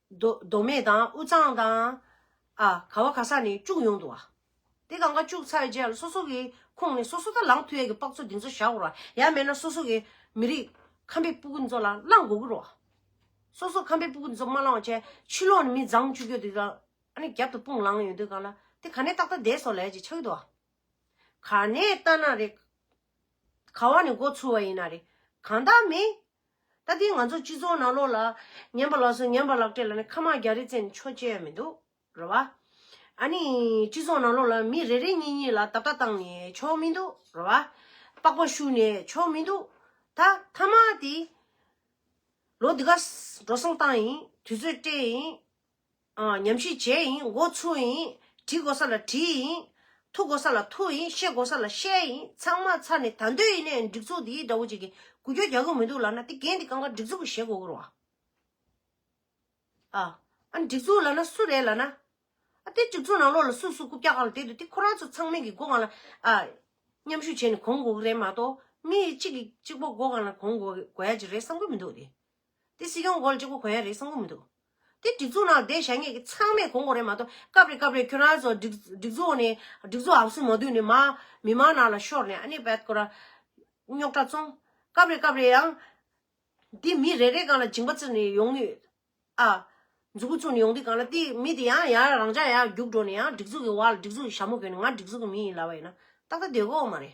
[SPEAKER 1] མདོ་མདོ་སྨད་དང་དབུས་གཙང་དང། ཨ། ག་བ་ག་ས་ནས་བཅུག་ཡོང་འདུག་ཨ། དེ་གང་ག་བཅུག་ཚར་རྗེས་སོ་སོ་གི་ཁུངས་ནས་སོ་སོ་དང་ལངས་ཐུ་ཡ་གི་པགས་ཚོ་འདི་ཚོ་བཞག་འོར་བ་ཡ་མེད་ན་སོ་སོ་གི་མི་རིགས་ཁམས་པའི་སྤུ་གུ་འདི་ཚོ་ལ་བླངས་དགོ་གི་རོ། སོ་སོ་ཁམས་པའི་སྤུ་གུ་འདི་ཚོ་མ་བླངས་བ་ཅན་ཕྱི་ལོག་ནས་མི་བརྫང་བཅུག་ཡོད་འདུག་ཨ་ནི་རྒྱབ་ཏུ་དཔུང་ལངས་ཡོད་འདུག་ག་ལ་དེ་ག་ནས་ཏག་ཏག་འདས་སོ་ལ་ཡ་ཅིག་ཆགས་ཀྱི་འདུག་ཨ། ག་ནས་ལྟ་ན་རེ། ག་བ་ནས་འགོ་ཚུགས་བ་ཡིན་ན་རེ། གང་དག་མི། ད་ལྟའི་ང་ཚོ་སྤྱི་ཚོགས་ནང་ལོགས་ལ། ཉན་པ་ལགས་སོ་ཉན་པ་ལགས་སྤྲད་ལ་ནི་ཁ་མག་རྒྱ་རི་བཙན་ནི་ཆོ་བཅས་ཡ་མི་འདུག་རོ་བ། ཨ་ནི་སྤྱི་ཚོགས་ནང་ལོགས་ལ་མི་རེ་རེ་གཉིས་གཉིས་ལ་ད་ལྟ་བཏང་ནི་ཆོ་མི་འདུག་རོ་བ། པགས་པ་ཤུ་ནི་ཆོ་མི་འདུག་ད་ཐ་མག་དེ། ལོ་འདི་ག་འགྲོ་སོང་བཏང་ཡིན་དུས་ཚོད་སྤྲད་ཡིན། ཉམས་ཤིང་བྱེད་ཡིན་མགོ་ཚུགས་ཡིན། བྲི་དགོས་ས་ལ་བྲི་ཡིན། ཐུག་དགོས་ས་ལ་ཐུག་ཡིན་བཤད་དགོས་ས་ལ་བཤད་ཡིན་ཚང་མ་ཚར་ནས་ད་འདོད་ཡིན་ནའི་སྒྲིག་འཛུགས་འདིའི་དགྲ་བོ་ཅིག་གིས་གུ་གྱོད་རྒྱག་གི་མི་འདུག་ལགས་ན་དེ་འགན་དེ་གང་ག་སྒྲིག་འཛུགས་ཀྱིས་བཞེས་དགོས་དགོས་རུ་བ། ཨ་ཨ་སྒྲིག་འཛུགས་ལགས་ན་སུ་རེད་ལགས་ན། ཨ་དེ་སྒྲིག་འཛུགས་ནང་ལོགས་ལ་སུ་སུ་རྐུབ་བཀྱག་ག་ལ་དེད་འདུག་དེ་ཁོ་རང་ཚོ་ཚང་མིང་གིས་སྒོ་གང་ལ་ཨ་མཉམ་ཞུགས་བྱས་ནས་གོང་དགོས་ཀྱི་རེད་མ་གཏོགས་མི་ཡིས་གཅིག་གིས་གཅིག་པོ་སྒོ་གང་ལ་གོང་དགོས་དགོས་ཡ་གཅིག་རེད་བསམ་གྱི་མི་འདུག་དེ། དེ་སྲིད་ཀྱང་གོ་ལ་གཅིག་པོ་གོ་ཡ་རེད་བསམ་གི་མི་འདུག་དེ་སྒྲིག་འཛུགས་ནང་བསྡད་བྱ་ངེས་ཀྱི་ཚང་མས་གོ་འགོ་རེད་མ་གཏོགས་སྐབས་རེ་སྐབས་རེ་ཁྱོད་རང་ཚོ་སྒྲིག་སྒྲིག་འཛུགས་ནས་སྒྲིག་འཛུགས་ཨང་སུ་མ་བསྡུས་ནས་མ་མི་མང་ནང་ལ་ཤོར་ནས་ཨ་ནེ་བད་ཀོ་ར། རྙོག་དྲ་བཙོང། སྐབས་རེ་སྐབས་རེ་ཡང། འདི་མི་རེ་རེ་གང་ལ་སྦྱིན་པ་བརྩི་ནས་ཡོང་ནུས། ཨ། འཛུགས་བཙུགས་ནས་ཡོང་དུས་གང་ལ་དེ་མི་དེ་ཡང་ཡང་རང་ཅག་ཡར་རྒྱུགས་འགྲོ་ནས་ཡང་སྒྲིག་འཛུགས་ཀྱི་བ་ལ་སྒྲིག་འཛུགས་ཀྱི་ཞྭ་མོ་བོས་ནས་ང་སྒྲིག་འཛུགས་ཀྱི་མི་ཡིན་ལབ་པ་ཡིན་ན་ཏག་ཏག་བསྡད་དགོས་འོ་མ་རེད།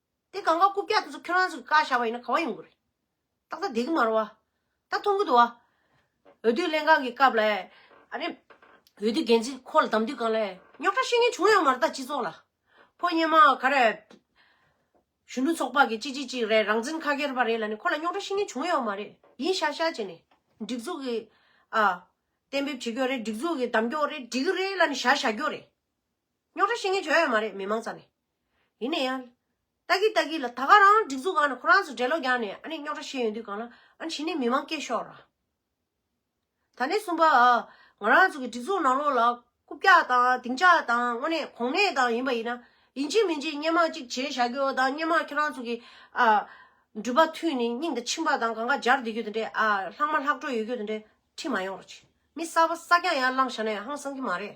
[SPEAKER 1] དེ་གང་ག་རྐུབ་བཀྱག་དེ་ཚོ་ཁྱོད་རང་ཚོ་གི་བཀའ་ཤག་པ་ཡིན་ན་གང་ཡོང་གི་རེད། ཏག་ཏག་བསྡད་ཀྱི་མ་རོ་བ། ད་མཐོང་གི་འདུག་བ། འོས་བསྡུ་ལྷན་ཁང་གི་སྐབས་ལ། ཨ་རེ། འོས་བསྡུ་འགན་འཛིན་ཁོ་ལ་གདམ་དུས་གང་ལ། རྙོག་ཁྲ་ཤེས་མཁན་བྱུང་ཡོང་མ་རེད་ད་སྤྱི་ཚོགས་ལ། ཕོ་སྙེ་མ་ག་རེ། གཞོན་ནུ་ཚོགས་པ་གི་ཅིག་ཅིག་ཅིག་རེད་རང་བཙན་ཁ་ཁེར་བ་རེད་ལ་ནི་ཁོ་ལ་རྙོག་ཁྲ་ཤེས་མཁན་བྱུང་ཡོང་མ་རེད་ཡིན་ཤག་ཤག་བྱས་ནས། སྒྲིག་འཛུགས་ཀྱི། ཨ། གཏན་འབེབས་བྱེད་རྒྱུ་རེད་སྒྲིག་འཛུགས་ཀྱི་གདམ་རྒྱོག་རེད་འགྲིག་གི་རེད་ལ་ནི་ཤག་ཤག་རྒྱོ་རེད། རྙོག་ཁྲ་ཤེས་མཁན་བྱོན་ཡོང་མ་རེད་མི་མང་རྩ་ནས། ཡིན་ན་ཡང། ལྟ་གི་ལྟ་གི་ལ་ད་ག་རང་སྒྲིག་འཛུགས་གང་ནས་ཁོ་རང་ཚོ་འགྲེལ་ལོག་རྒྱག་ནས་ཨ་ནི་རྙོག་དྲ་བཤད་ཡོང་དུས་གང་ལ་ཨ་ནི་བྱས་ནས་མི་དམངས་སྐད་ཤོར་ར། ད་ནས་གསུམ་པ་ཨ། ང་རང་ཚོ་གི་སྒྲིག་འཛུགས་ནང་ལོགས་ལ་རྐུབ་བཀྱག་དང་སྡིངས་ཆ་དང་དངོས་གནས་གོང་ནས་དང་ཡིན་པ་ཡིན་ན། ཡིན་གཅིག་མིན་གཅིག་སྙན་མང་གཅིག་བྱས་བཞག་རྒྱུ་དང་སྙན་མང་ཁྱེད་རང་ཚོ་གི་ཨ། འགྲུལ་པ་ཐུས་ནས་སྙིང་དང་མཆིན་པ་དང་གང་ག་སྦྱར་བསྡད་རྒྱུ་དེ་འདྲས་ཨ། ལྷག་མ་ལྷག་འཕྲོ་ཡོད་རྒྱུ་དེ་འདྲས་ཁྲིད་མ་ཡོང་ར། མི་གསར་པ་གསར་རྐྱང་ཡར་བླངས་བཞག་ན་ཡང་ཧང་སང་གི་མ་རེད།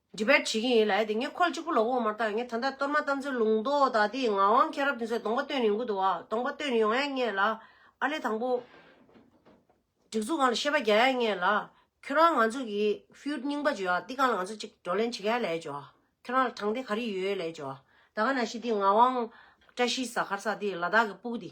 [SPEAKER 1] འདྲི་བར་བྱེད་ཀྱིན་ཡོད་ལ་ཡ་དེ་ངས་ཁོ་ལ་གཅིག་པུ་ལོག་འོང་མ་ཐག་ངས་ད་ལྟ་གཏོར་མ་བཏབ་མཚོན་ལུང་རྡོ་དག་དེ་ཡི་ངག་དབང་མཁྱེན་རབ་དེ་ཚོས་གདོང་པ་སྟོན་ཡོང་གི་འདུག་བ་གདོང་པ་སྟོན་ཡོང་ཡ་ངེས་ལ། ཨ་ལེ་དང་པོ། སྒྲིག་འཛུགས་གང་ལ་ཤེས་པ་རྒྱག་ཡ་ངེས་ལ། ཁྱོད་རང་ང་ཚོ་གི་ཧྥུའུ་རྙིང་པ་བརྗོད་ཡ་འདི་གང་ལ་ང་ཚོ་གཅིག་བགྲོ་གླེང་བྱེད་ག་ཡ་ལས་བྱོ། ཁྱོད་རང་ལ་དྲང་བདེན་ག་རེ་ཡོད་ལས་བྱོ། ད་ག་ན་ཤི་འདི་ངག་དབང་བཀྲ་ཤིས་ཟ་ཁར་ས་དེ་ལ་དྭགས་ཀྱི་སྤུག་དེ།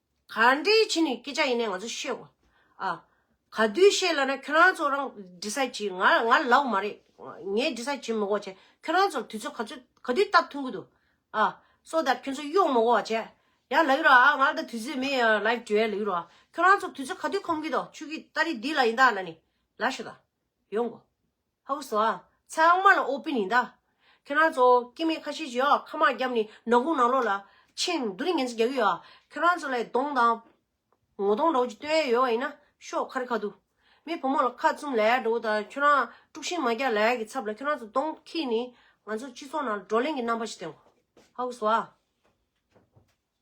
[SPEAKER 1] ག་འདྲའི་ཕྱི་ནས་སྐད་ཆ་ཡིན་ནས་ང་ཚོ་ཤེས། ཨ། ག་དུས་ཤེས་ལ་ན་ཁྱོད་རང་ཚོ་རང decide བྱེད་ང་ང་ལོག་མ་རེད། ངས decide བྱེད་མི་གོ་བྱས་ཁྱོད་རང་ཚོར་དུས་ཚོད་ག་ཚོད་ག་དུས་སྟབས་མཐུན་གི་འདུག་ཨ། so that ཁྱོད་ཚོ་གཡོག་མི་གོ་བ་བྱས། ཡ་ལགས་རོ་ཨ་ང་ལ་ད་དུས་ཚོད་མེད་ཡ་ལགས་བྲོས་ལགས་རོ་ཨ། ཁྱོད་རང་ཚོ་དུས་ཚོད་ག་དུས་ཁོམ་གི་འདུག་ཆུ་གི་སྟ་རི་འདི་ལ་ཡིན་ད་ལ་ནི་ལ་ཤི་ད། ཡོང་གོ། ཧཱུྃ་བཟླ། ཚལ་དབང་མ་ལ་ཨོ་པི་ནི་བཟླ། ཁྱེད་རང་ཚོ་སྐྱེ་མེད་ཁ་ཤས་ཀྱིས་ཨ་ཁ་མ་བརྒྱབ་ནས་ནང་ཁུང་ནང་ལོགས་ལ་ཕྱིན་བསྡུ་རི་ངན་ཚོ་རྒྱག་གི་ཡོད་ཁྱེད་རང་ཚོ་ལ་གདོང་དང། ངོ་གདོང་འདྲ་བོ་ཅིག་སྟོན་ཡས་ཡོད་བ་ཡིན་ན་ཤོག་ཁ་རི་ཁ་འདུག་མི་བུ་མོ་ལ་ཁ་བཙུམ་ལས་འགྲོ་བོ་དང་ཁྱོད་རང་དཀྲུགས་ཤིང་མ་རྒྱག་ལས་ཀྱི་ཚབ་ལ་ཁྱོད་རང་ཚོ་གདོང་ཁྱིས་ནི་ང་ཚོ་སྤྱི་ཚོགས་ནང་བགྲོ་གླེང་གི་རྣམ་པ་ཞིག་སྟོན་གོ། ཧཱུྃ་བཟླ།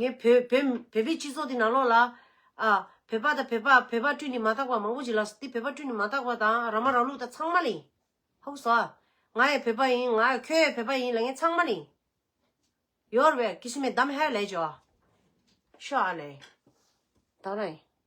[SPEAKER 1] ངས་བོད། བོད་པའི་སྤྱི་ཚོགས་འདི་ནང་ལོགས་ལ། ཨ། བོད་པ་དང་བོད་པ། བོད་པ་སྤྲུལ་ནས་མ་དག་པ་མང་པོ་ཞིག་ལགས་སོ། དེ་བོད་པ་སྤྲུལ་ནས་མ་དག་པ་དང་རང་མ་རང་ལུགས་དང་ཚང་མ་ལ་ཡིན། ཧཱུྃ་བཟླ། ང་ཡི་བོད་པ་ཡིན། ང། ཁྱོད་ཡི་བོད་པ་ཡིན་ལ་ངས་ཚང་མ་ལ་ཡིན། ཡོར་བས་ཀི་སི་མེ་དམ་ཧའི་ལས་བྱོ། ཤོ་ཨ་ལས། དང་ར་ཡིན།